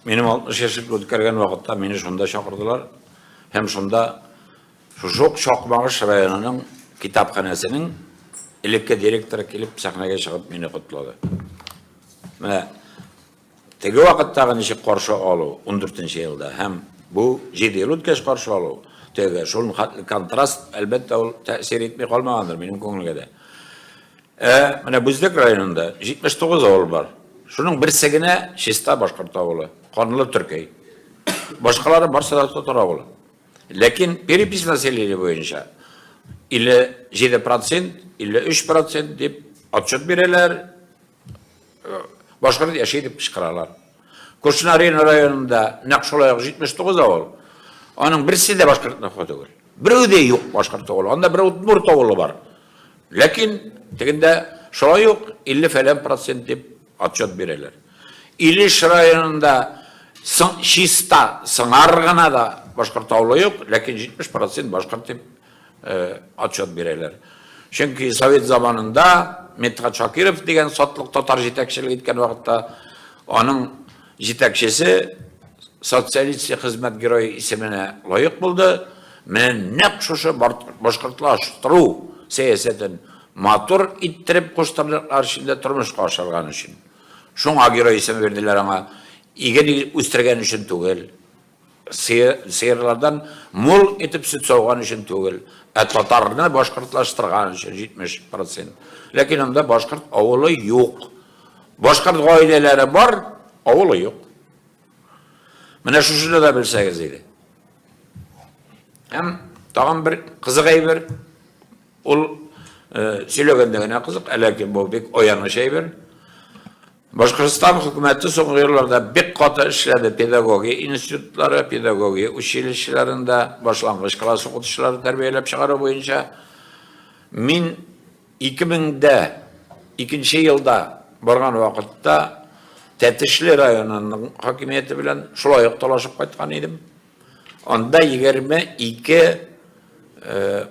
минем 60 яшьлек үткәргән вакытта мине шунда чакырдылар һәм шунда шук Шакмагыш районының китапханәсенең элекке директоры килеп сәхнәгә чыгып мине котлады. Менә Теге вакыттагы ничек каршы алу, ундүртенче елда, һәм бу, җиде ел үткәч каршы алу, тегегә шул хәтле контраст, әлбәттә, ул тәэсир итми калмагандыр минем күңелгә дә. Ә менә Бүздек районында 79 авыл бар. Шуның берсе генә чиста башкорт авылы, канлы төркәй. Башкалары барсы да татар авылы. Ләкин перепись населения буенча 57%, 53% дип отчет бирәләр, башкорт яши дип кычкыралар. Кушна Рина районында нәкъ шулай ук 79 авыл. Аның берсе дә башкорт нөхе түгел. Берәү дә юк башкорт авылы. Анда бер удмурт авылы бар. Ләкин тегендә шулай ук 50 фәлән процент дип отчет бирәләр. Илеш районында чиста сыңар гына да башкорт авылы юк, ләкин 70 процент башкорт дип отчет бирәләр. Чөнки совет заманында Медхат Шакиров дигән сатлык татар җитәкчелек иткән вакытта аның җитәкчесе социалист хезмәт герое исеменә лаек булды. Менә нәкъ шушы башкортлаштыру сәясәтен матур иттереп куштарлыклар эчендә тормышка ашырган өчен. Шуңа герой исеме бирделәр аңа. Иген үстергән өчен түгел. Сыерлардан мул итеп сөт сауган өчен түгел, ә татарны башкортлаштырган өчен 70 процент. Ләкин анда башкорт авылы юк. Башкорт гаиләләре бар, авылы юк. Менә шушыны да белсәгез иде. Һәм тагын бер кызык әйбер, ул сөйләгәндә генә кызык, әләки бу бик аяныч әйбер. Башкортстан хөкүмәте соңгы елларда бик каты эшләде, педагогия институтлары, педагогия училищеларында башлангыч класс укытучылары тәрбияләп чыгару буенча. Мин 2002 елда барган вакытта Тәтешле районының хакимияте белән шулай ук талашып кайткан идем. Анда егерме ике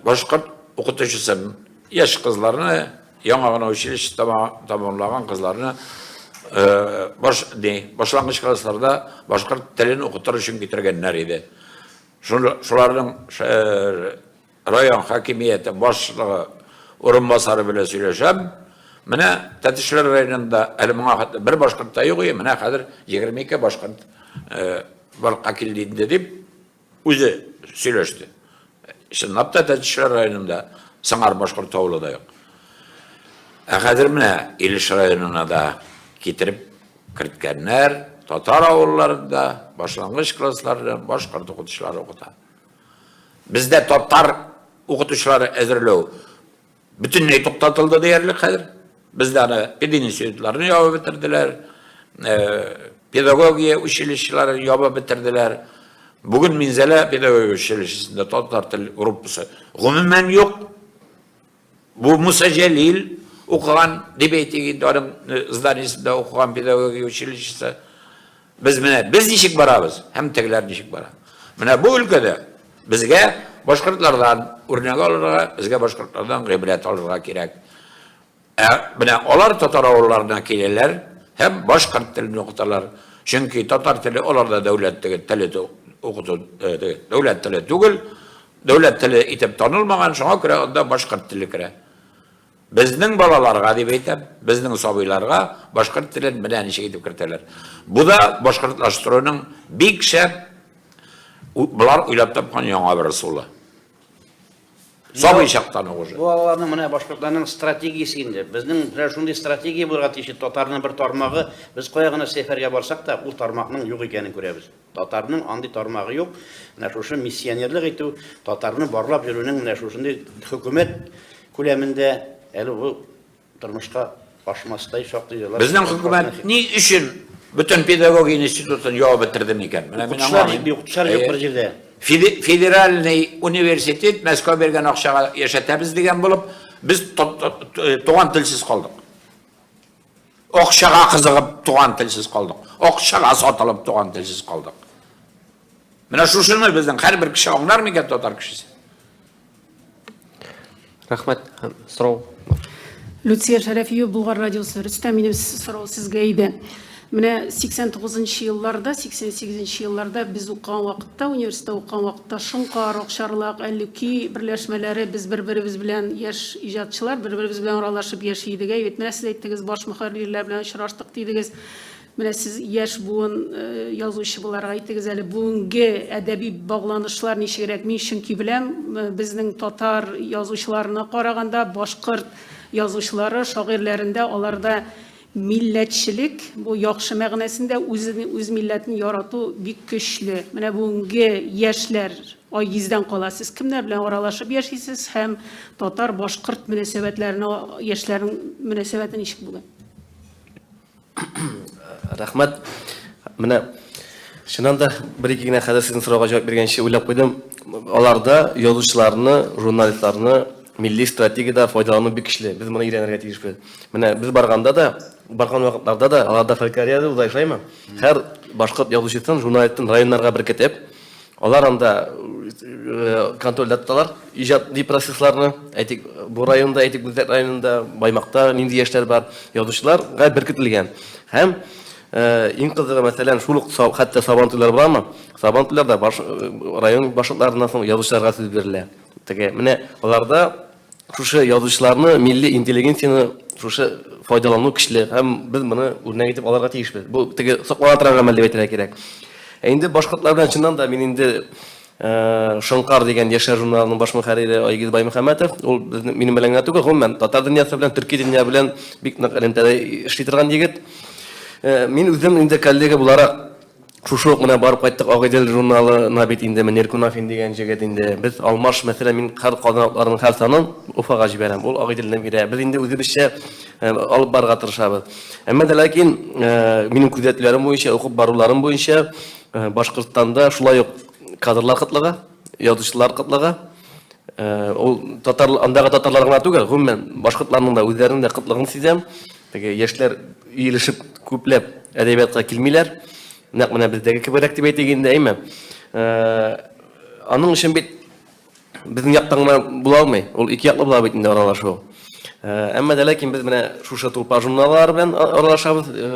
башкорт укытучысы яшь кызларны, яңа гына училище тамамлаган кызларны баш, не, башлангыч классларда башкорт телен укытыр өчен китергәннәр иде. Шуларның Район хакимияте башлыгы урынбасары белән сөйләшәм, менә Тәтешләр районында әле моңа хәтле бер башкорт та юк иде, менә хәзер 22 башкорт барлыкка килде инде, дип үзе сөйләште. Чынлап та Тәтешләр районында сыңар башкорт авылы да юк. Ә хәзер менә Илеш районына да китереп керткәннәр, татар авылларында башлангыч классларда башкорт укытучылары укыта. Бездә татар укытучылары әзерләү бөтенләй туктатылды диярлек хәзер. Бездә аны пединститутларны ябып бетерделәр, педагогия училищелары ябып бетерделәр. Бүген Минзәлә педагогия училищесында татар тел группасы гомумән юк. Бу Муса Җәлил укыган, дип әйтик инде, аның э, зданиесендә укыган педагогия училищесы. Без менә без ничек барабыз һәм тегеләр ничек бара. Менә бу өлкәдә безгә башкортлардан үрнәк алырга, безгә башкортлардан гыйбрәт алырга кирәк. Ә менә алар татар авылларына киләләр һәм башкорт телен укыталар. Чөнки татар теле аларда дәүләт теле укыту э, дәүләт теле түгел, Дәүләт теле итеп танылмаган, шуңа күрә анда башкорт теле керә. Безнең балаларга, дип әйтәм, безнең сабыйларга башкорт телен менә ничек итеп кертәләр. Бу да башкортлаштыруның бик шәп болар уйлап тапкан яңа бер ысулы. Сабый чактан ук уже. Бу аларның менә башкортларның стратегиясе инде. Безнең менә шундый стратегия булырга тиеш. Татарның бер тармагы, без кая гына сәфәргә барсак та, ул тармакның юк икәнен күрәбез. Татарның андый тармагы юк, менә шушы миссионерлык итү, татарны барлап йөрүнең менә шушындый хөкүмәт күләмендә әле бу тормышка ашмастай шактый җырлар. Безнең хөкүмәт ни өчен бөтен педагогия институтын явып бетерде микән? Менә мин аңламыйм. Укытучылар юк бер җирдә. Федеральный университет Мәскәү биргән акчага яшәтәбез дигән булып, без туган телсез калдык. Акчага кызыгып туган телсез калдык. Акчага сатылып туган телсез калдык. Менә шушыны безнең һәрбер кеше аңлар микән татар кешесе? Рәхмәт. Сорау. Люция Шәрәфиева, Булгар радиосы. Рөстәм, минем сорау сезгә иде. Менә 89 елларда, 88 елларда без укыган вакытта, университетта укыган вакытта Ташын Карык, Чарлак, Әллүки берләшмәләре, без бер-беребез белән, яшь иҗатчылар, бер-беребез белән аралашып яши идек. Әйе бит, менә сез әйттегез, баш мөхәррирләр белән очраштык дидегез. Менә сез яшь буын язучы буларак әйтегез әле, бүгенге әдәби багланышлар ничегрәк? Мин чөнки беләм, безнең татар язучыларына караганда, башкорт язучылары, шагыйрьләрендә аларда Милләтчелек, бу яхшы мәгънәсендә үзен, үз милләтен ярату бик көчле. Менә бүгенге яшьләр Айгиздән кала. Сез кемнәр белән аралашып яшисез һәм татар-башкорт мөнәсәбәтләренә яшьләрнең мөнәсәбәте ничек бүген? Рәхмәт. Менә чыннан да бер-ике генә хәзер сезнең сорауга җавап биргәнче уйлап куйдым. Аларда язучыларны, журналистларны Милли стратегиядә файдалану бик көчле. Без моны өйрәнергә тиешбез. Менә без барганда да, барган вакытларда да аларда фольклория да уза, шулаймы? Һәр башкорт язучысын, журналистын районнарга беркетеп, алар анда контрольдә тоталар иҗади процессларны. Әйтик, бу районда, әйтик, Гүзәк районында, Баймакта нинди яшьләр бар, язучыларга беркетелгән. Һәм иң кызыгы, мәсәлән, шул ук хәтта Сабан туйлары буламы? Сабан туйларда район башкортларыннан соң язучыларга сүз бирелә. Теге, менә аларда шушы язучыларны, милли интеллигенцияне шушы файдалану көчле һәм без моны үрнәк итеп алырга тиешбез. Бу теге соклана торган гамәл дип әйтергә кирәк. Ә инде башкортлар белән чыннан да мин инде э, Шонкар дигән яшьләр журналының баш мөхәррире Айгиз Баймөхәммәтов, ул безнең минем белән генә түгел, гомумән татар дөньясы белән, төрки дөнья белән бик нык элемтәдә эшли торган егет. Э, мин үзем инде коллега буларак Шушы ук менә барып кайттык Агыйдел журналына бит инде Мөнир Кунафин дигән җегет инде. Без алмаш, мәсәлән, мин кар казан атларының һәр санын Уфага җибәрәм. Ул Агыйделне бирә. Без инде үзебезчә алып барырга тырышабыз. Әмма дә ләкин минем күзәтүләрем буенча, укып баруларым буенча, Башкортстанда шулай ук кадрлар кытлыгы, язучылар кытлыгы, ул татар, андагы татарлар гына түгел, гомумән башкортларның да үзләренең дә кытлыгын сизәм. Теге яшьләр иелешеп күпләп әдәбиятка килмиләр. Нәкъ менә бездәге кеберәк дип әйтик инде, әйме? Э, аның өчен бит безнең яктан гына була алмый. Ул ике яклы була бит инде аралашу. Э, әмма дә ләкин без менә шушы тулпар журналлары белән аралашабыз, э,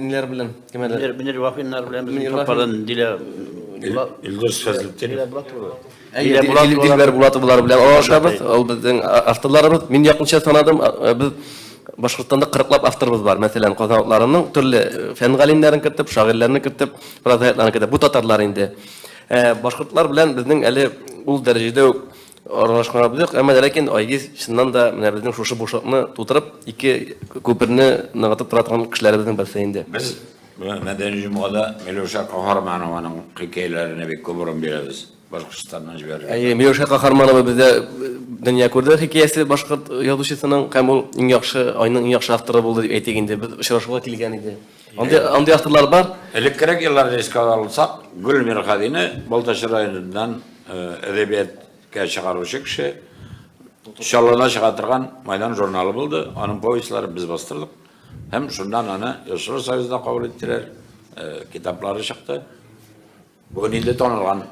ниләр белән? Кемәләр? Мөнир Вафиннар белән без тулпардан дилә Илдус Фәзлетдинов. Әйе, Дилбәр Булатовалар белән аралашабыз. Ул безнең авторларыбыз. Мин якынча санадым, без Башкортстанда кырыклап авторыбыз бар. Мәсәлән, Казан утларының төрле фән галимнәрен кертеп, шагыйрьләрне кертеп, прозаикларны кертеп. Бу татарлар инде. Башкортлар белән безнең әле ул дәрәҗәдә үк аралашканыбыз юк. Әмма ләкин Айгиз чыннан да менә безнең шушы бушлыкны тутырып, ике күперне ныгытып тора торган кешеләребезнең берсе инде. Без Менә Мәдәни җомгада Миләүшә Каһарманованың хикәяләренә бик күп урын бирәбез. Башкортстаннан җибәрелгән. Әйе, Миләүшә Каһарманова бездә дөнья күрде хикәясе башкорт язучысының һәм ул иң яхшы, айның иң яхшы авторы булды дип әйтик инде. Без очрашуга килгән иде. Андый, андый авторлар бар. Элеккерәк елларны искә алсак, Гөл Мирхәдине Балтач районыннан әдәбияткә чыгаручы кеше, Чаллыда чыга торган Майдан журналы булды, аның повестьларын без бастырдык. Һәм шуннан аны Йошуа Союзда кабул иттеләр, китаплары чыкты. Бүген инде танылган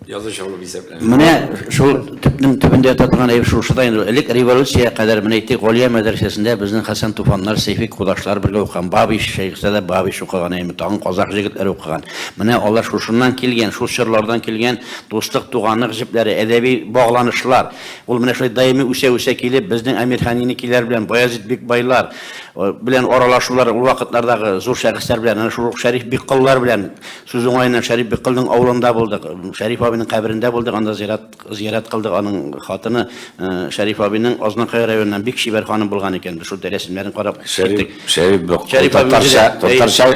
язучы булып исәпләнә. Менә шул төпнең төбендә ята торган әйбер шушы да инде. Элек революция кадәр менә әйтик, Галия мәдрәсәсендә безнең Хәсән Туфаннар, Сәйфи кудашлар бергә укыган. Бабич, Шәйхсә дә Бабич укыган, әйме, тагын казах җегетләре укыган. Менә алар шушыннан килгән, шул чорлардан килгән дуслык, туганлык җепләре, әдәби багланышлар. Ул менә шулай даими үсә-үсә килеп, безнең Әмирханинекиләр белән Баязит бик байлар э, белән аралашулар ул вакытлардагы зур шәхесләр белән, әнә шул Шәриф бик кыллар белән сүз уңаеннан Шәриф бик кылның авылында булдык. Шәриф абының каберендә булдык, анда зират зиярат кылдык. Аның хатыны э, Шәриф абының Азнакай районыннан бик чибәр ханым булган икән. Без шул рәсемнәрен карап Шәриф, Шәриф, Шәриф абый татарча, татарча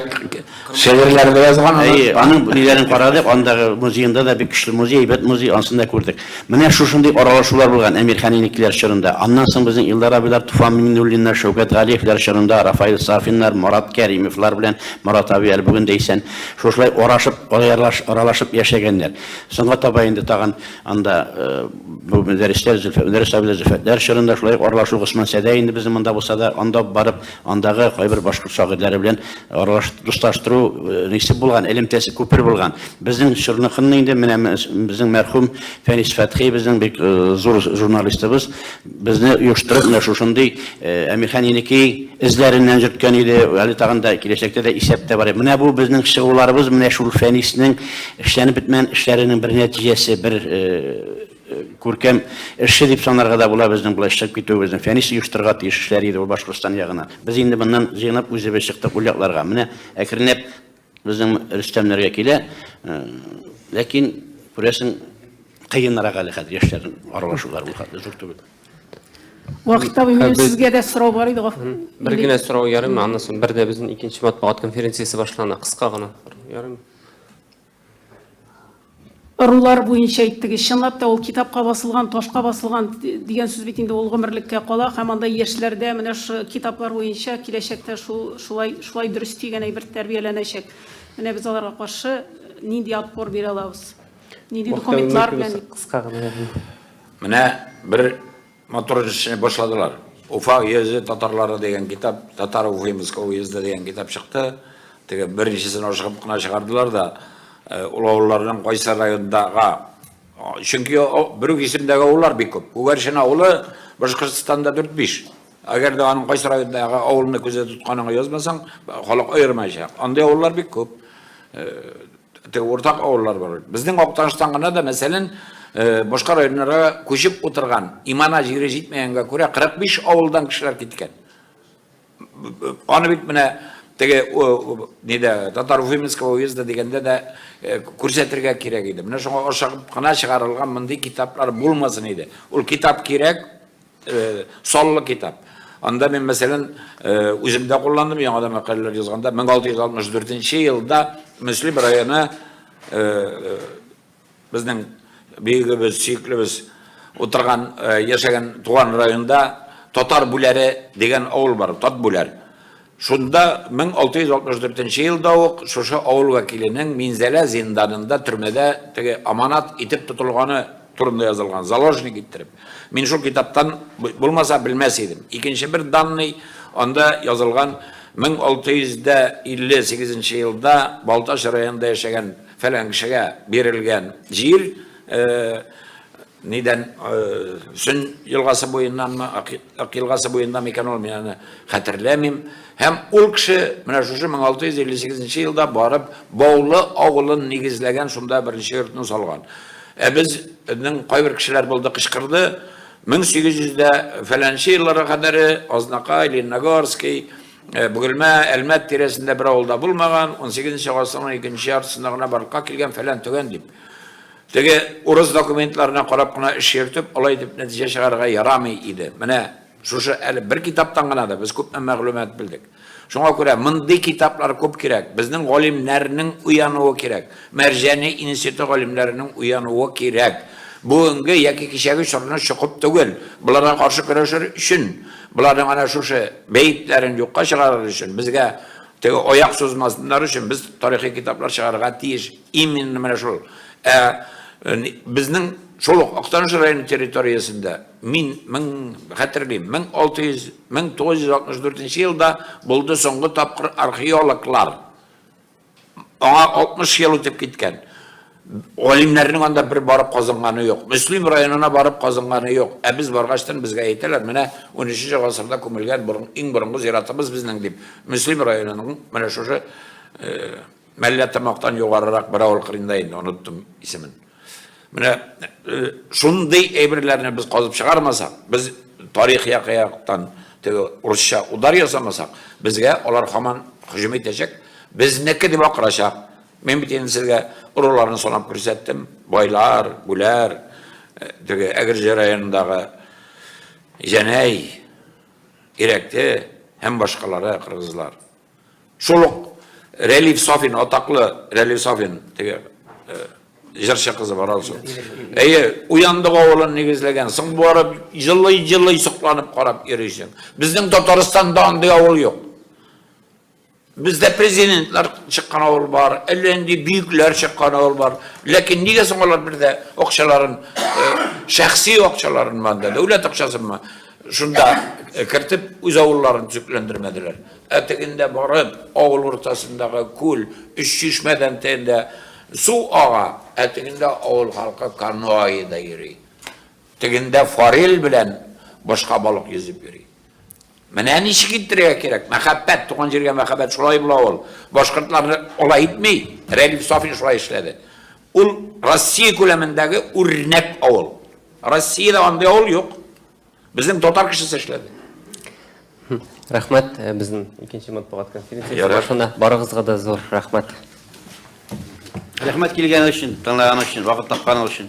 Шигырьләр дә язган. Әйе, аның ниләрен карадык, андагы музеенда да бик көчле музей, әйбәт музей, ансын да күрдек. Менә шушындый аралашулар булган Әмир Хәнинекеләр чорында. Аннан соң безнең Илдар абыйлар, Туфан Миңнуллиннар, Шәүкәт Галиевләр чорында, Рафаил Сафиннар, Марат Кәримовлар белән, Марат абый әле бүген дә исән, шушылай арашып, аралашып яшәгәннәр. Соңга таба инде тагын анда бу Мөдәррисләр, Мөдәррис абыйлар, Зөлфәтләр чорында шулай ук аралашу Госман Сәдәй инде безнең монда булса да, анда ук барып, Андагы кайбер башкорт шагыйрьләре белән аралаш дуслаштыру нисе булган, элемтәсе күпер булган. Безнең чорныкынны инде менә безнең мәрхүм Фәнис Фәтхи безнең бик зур журналистыбыз безне оештырып менә шушындый Әмирхан Еники эзләреннән йөрткән иде. Әле тагын да киләчәктә дә исәптә бар. Менә бу безнең чыгуларыбыз менә шул Фәниснең эшләнеп бетмәгән эшләренең бер нәтиҗәсе, бер Күркәм эшче дип санарга да була безнең болай чыгып китүебезне. Фәнис оештырырга тиеш эшләр иде ул Башкортстан ягына. Без инде моннан җыенып үзебез чыктык ул якларга. Менә әкренләп безнең Рөстәмнәргә килә. Ләкин күрәсең кыенрак әле хәзер яшьләрнең аралашулары ул хәтле зур түгел. Вакытта минем сезгә дә сорау бар иде. Бер генә сорау ярыймы? Аннан соң бер дә безнең икенче матбугат конференциясе башлана. Кыска гына. Ярыймы? Ырулар буенча әйттегез. Чынлап та, ул китапка басылган, ташка басылган дигән сүз бит инде ул гомерлеккә кала һәм анда яшьләрдә менә шушы китаплар буенча киләчәктә шул, шулай, шулай дөрес дигән әйбер тәрбияләнәчәк. Менә без аларга каршы нинди отпор бирә алабыз? Нинди документлар белән? Кыска гына. Менә бер Матур эшне башладылар. Уфа уезды татарлары дигән китап, татар Уфимского уезда дигән китап чыкты. Теге беренчесен ашыгып кына чыгардылар да, э, ул авылларның кайсы райондагы Чөнки бер үк исемдәге авыллар бик күп. Күгәршен авылы Башкортстанда 4-5. Әгәр дә аның кайсы райондагы авылны күздә тотканың язмасаң, халык аермаячак. Андый авыллар бик күп. Э, Теге уртак авыллар бар. Безнең Актаныштан гына да, мәсәлән, э, башка районнарга күчеп утырган, имана җире җитмәгәнгә күрә 45 авылдан кешеләр киткән. Аны бит менә теге нидә татар уфимского уезда дигәндә дә э, күрсәтергә кирәк иде. Менә шуңа ашыгып кына чыгарылган мондый китаплар булмасын иде. Ул китап кирәк, Саллы китап. Анда мин, мәсәлән, үзем дә кулландым, яңа да мәкаләләр язганда, 1664 елда Мөслим районы безнең бөегебез, сөеклебез утырган, яшәгән туган районда Татар Бүләре дигән авыл бар, Тат Бүләр. Шунда 1664 нче елда ук шушы авыл вәкиленең Минзәлә зинданында, төрмәдә теге аманат итеп тотылганы турында язылган, заложник иттереп. Мин шул китаптан булмаса белмәс идем. Икенче бер данный, анда язылган 1658 нче елда Балтач районында яшәгән фәлән кешегә бирелгән җир, Нидән, Сөн елгасы буеннанмы, Ак елгасы буеннан микән ул, мин аны хәтерләмим. Һәм ул кеше менә шушы 1658 елда барып Баулы авылын нигезләгән, шунда беренче йортны салган. Ә безнең кайбер кешеләр булды, кычкырды, 1800 дә фәләнче елларга кадәр Азнакай, Лениногорский, Бөгелмә, Әлмәт тирәсендә бер авылда булмаган, 18 нче гасырның икенче яртысында гына барлыкка килгән фәлән-төгән дип. Теге урыс документларына карап кына эш йөртеп, алай дип нәтиҗә чыгарырга ярамый иде. Менә шушы әле бер китаптан гына да без күпме мәгълүмат белдек. Шуңа күрә мондый китаплар күп кирәк. Безнең галимнәрнең уянуы кирәк. Мәрҗани институты галимнәренең уянуы кирәк. Бүгенге яки кичәге чорны чокып түгел. Боларга каршы көрәшер өчен, боларның әнә шушы бәетләрен юкка чыгарыр өчен, безгә теге аяк сузмасыннар өчен без тарихи китаплар чыгарырга тиеш. Именно менә шул. Ә безнең шул ук Актаныш районы территориясендә мин мең хәтерлим, 1600 1964 елда булды соңгы тапкыр археологлар. Аңа 60 ел үтеп киткән. Галимнәрнең анда бер барып казынганы юк. Мөслим районына барып казынганы юк. Ә без баргачтан безгә әйтәләр, менә 13 гасырда күмелгән иң борынгы зиратыбыз безнең дип. Мөслим районының менә шушы Мәллә тамактан югарырак бер авыл кырында инде, оныттым исемен. Менә э, шундый әйберләрне без казып чыгармасак, без тарих якыяктан теге урысча удар ясамасак, безгә алар хаман һөҗүм итәчәк, безнеке дип акырачак. Мин бит инде сезгә урыларны санап күрсәттем. Байлар, гүләр, э, теге Әгерҗе районындагы Җәнәй, Ирәкте һәм башкалары кыргызлар. Шул ук Рәлиф Сафин, атаклы Рәлиф Сафин, теге җырчы кызы бар алсу. Әйе, уяндык авылын нигезләгән. Соң барып җылый-җылый сокланып карап йөрисең. Безнең Татарстанда андый авыл юк. Бездә президентлар чыккан авыл бар, әллә нинди бөекләр чыккан авыл бар. Ләкин нигә соң алар бердә акчаларын, шәхси акчаларын монда, дәүләт акчасынмы, шунда кертеп үз авылларын төзекләндермәделәр? Ә тегендә барып, авыл уртасындагы күл, өч чишмәдән тегендә су ага, ә тегендә авыл халкы каноэда йөри. Тегендә форель белән башка балык йөзеп йөри. Менә ничек иттерергә кирәк. Мәхәббәт, туган җиргә мәхәббәт шулай була ул. Башкортларны алай итми. Рәдиф Сафин шулай эшләде. Ул Россия күләмендәге үрнәк авыл. Россиядә андый авыл юк. Безнең татар кешесе эшләде. Рәхмәт э, безнең икенче матбугат конференциясе башына барыгызга да зур рәхмәт. Рәхмәт килгән өчен, тыңлаган өчен, вакыт тапкан өчен.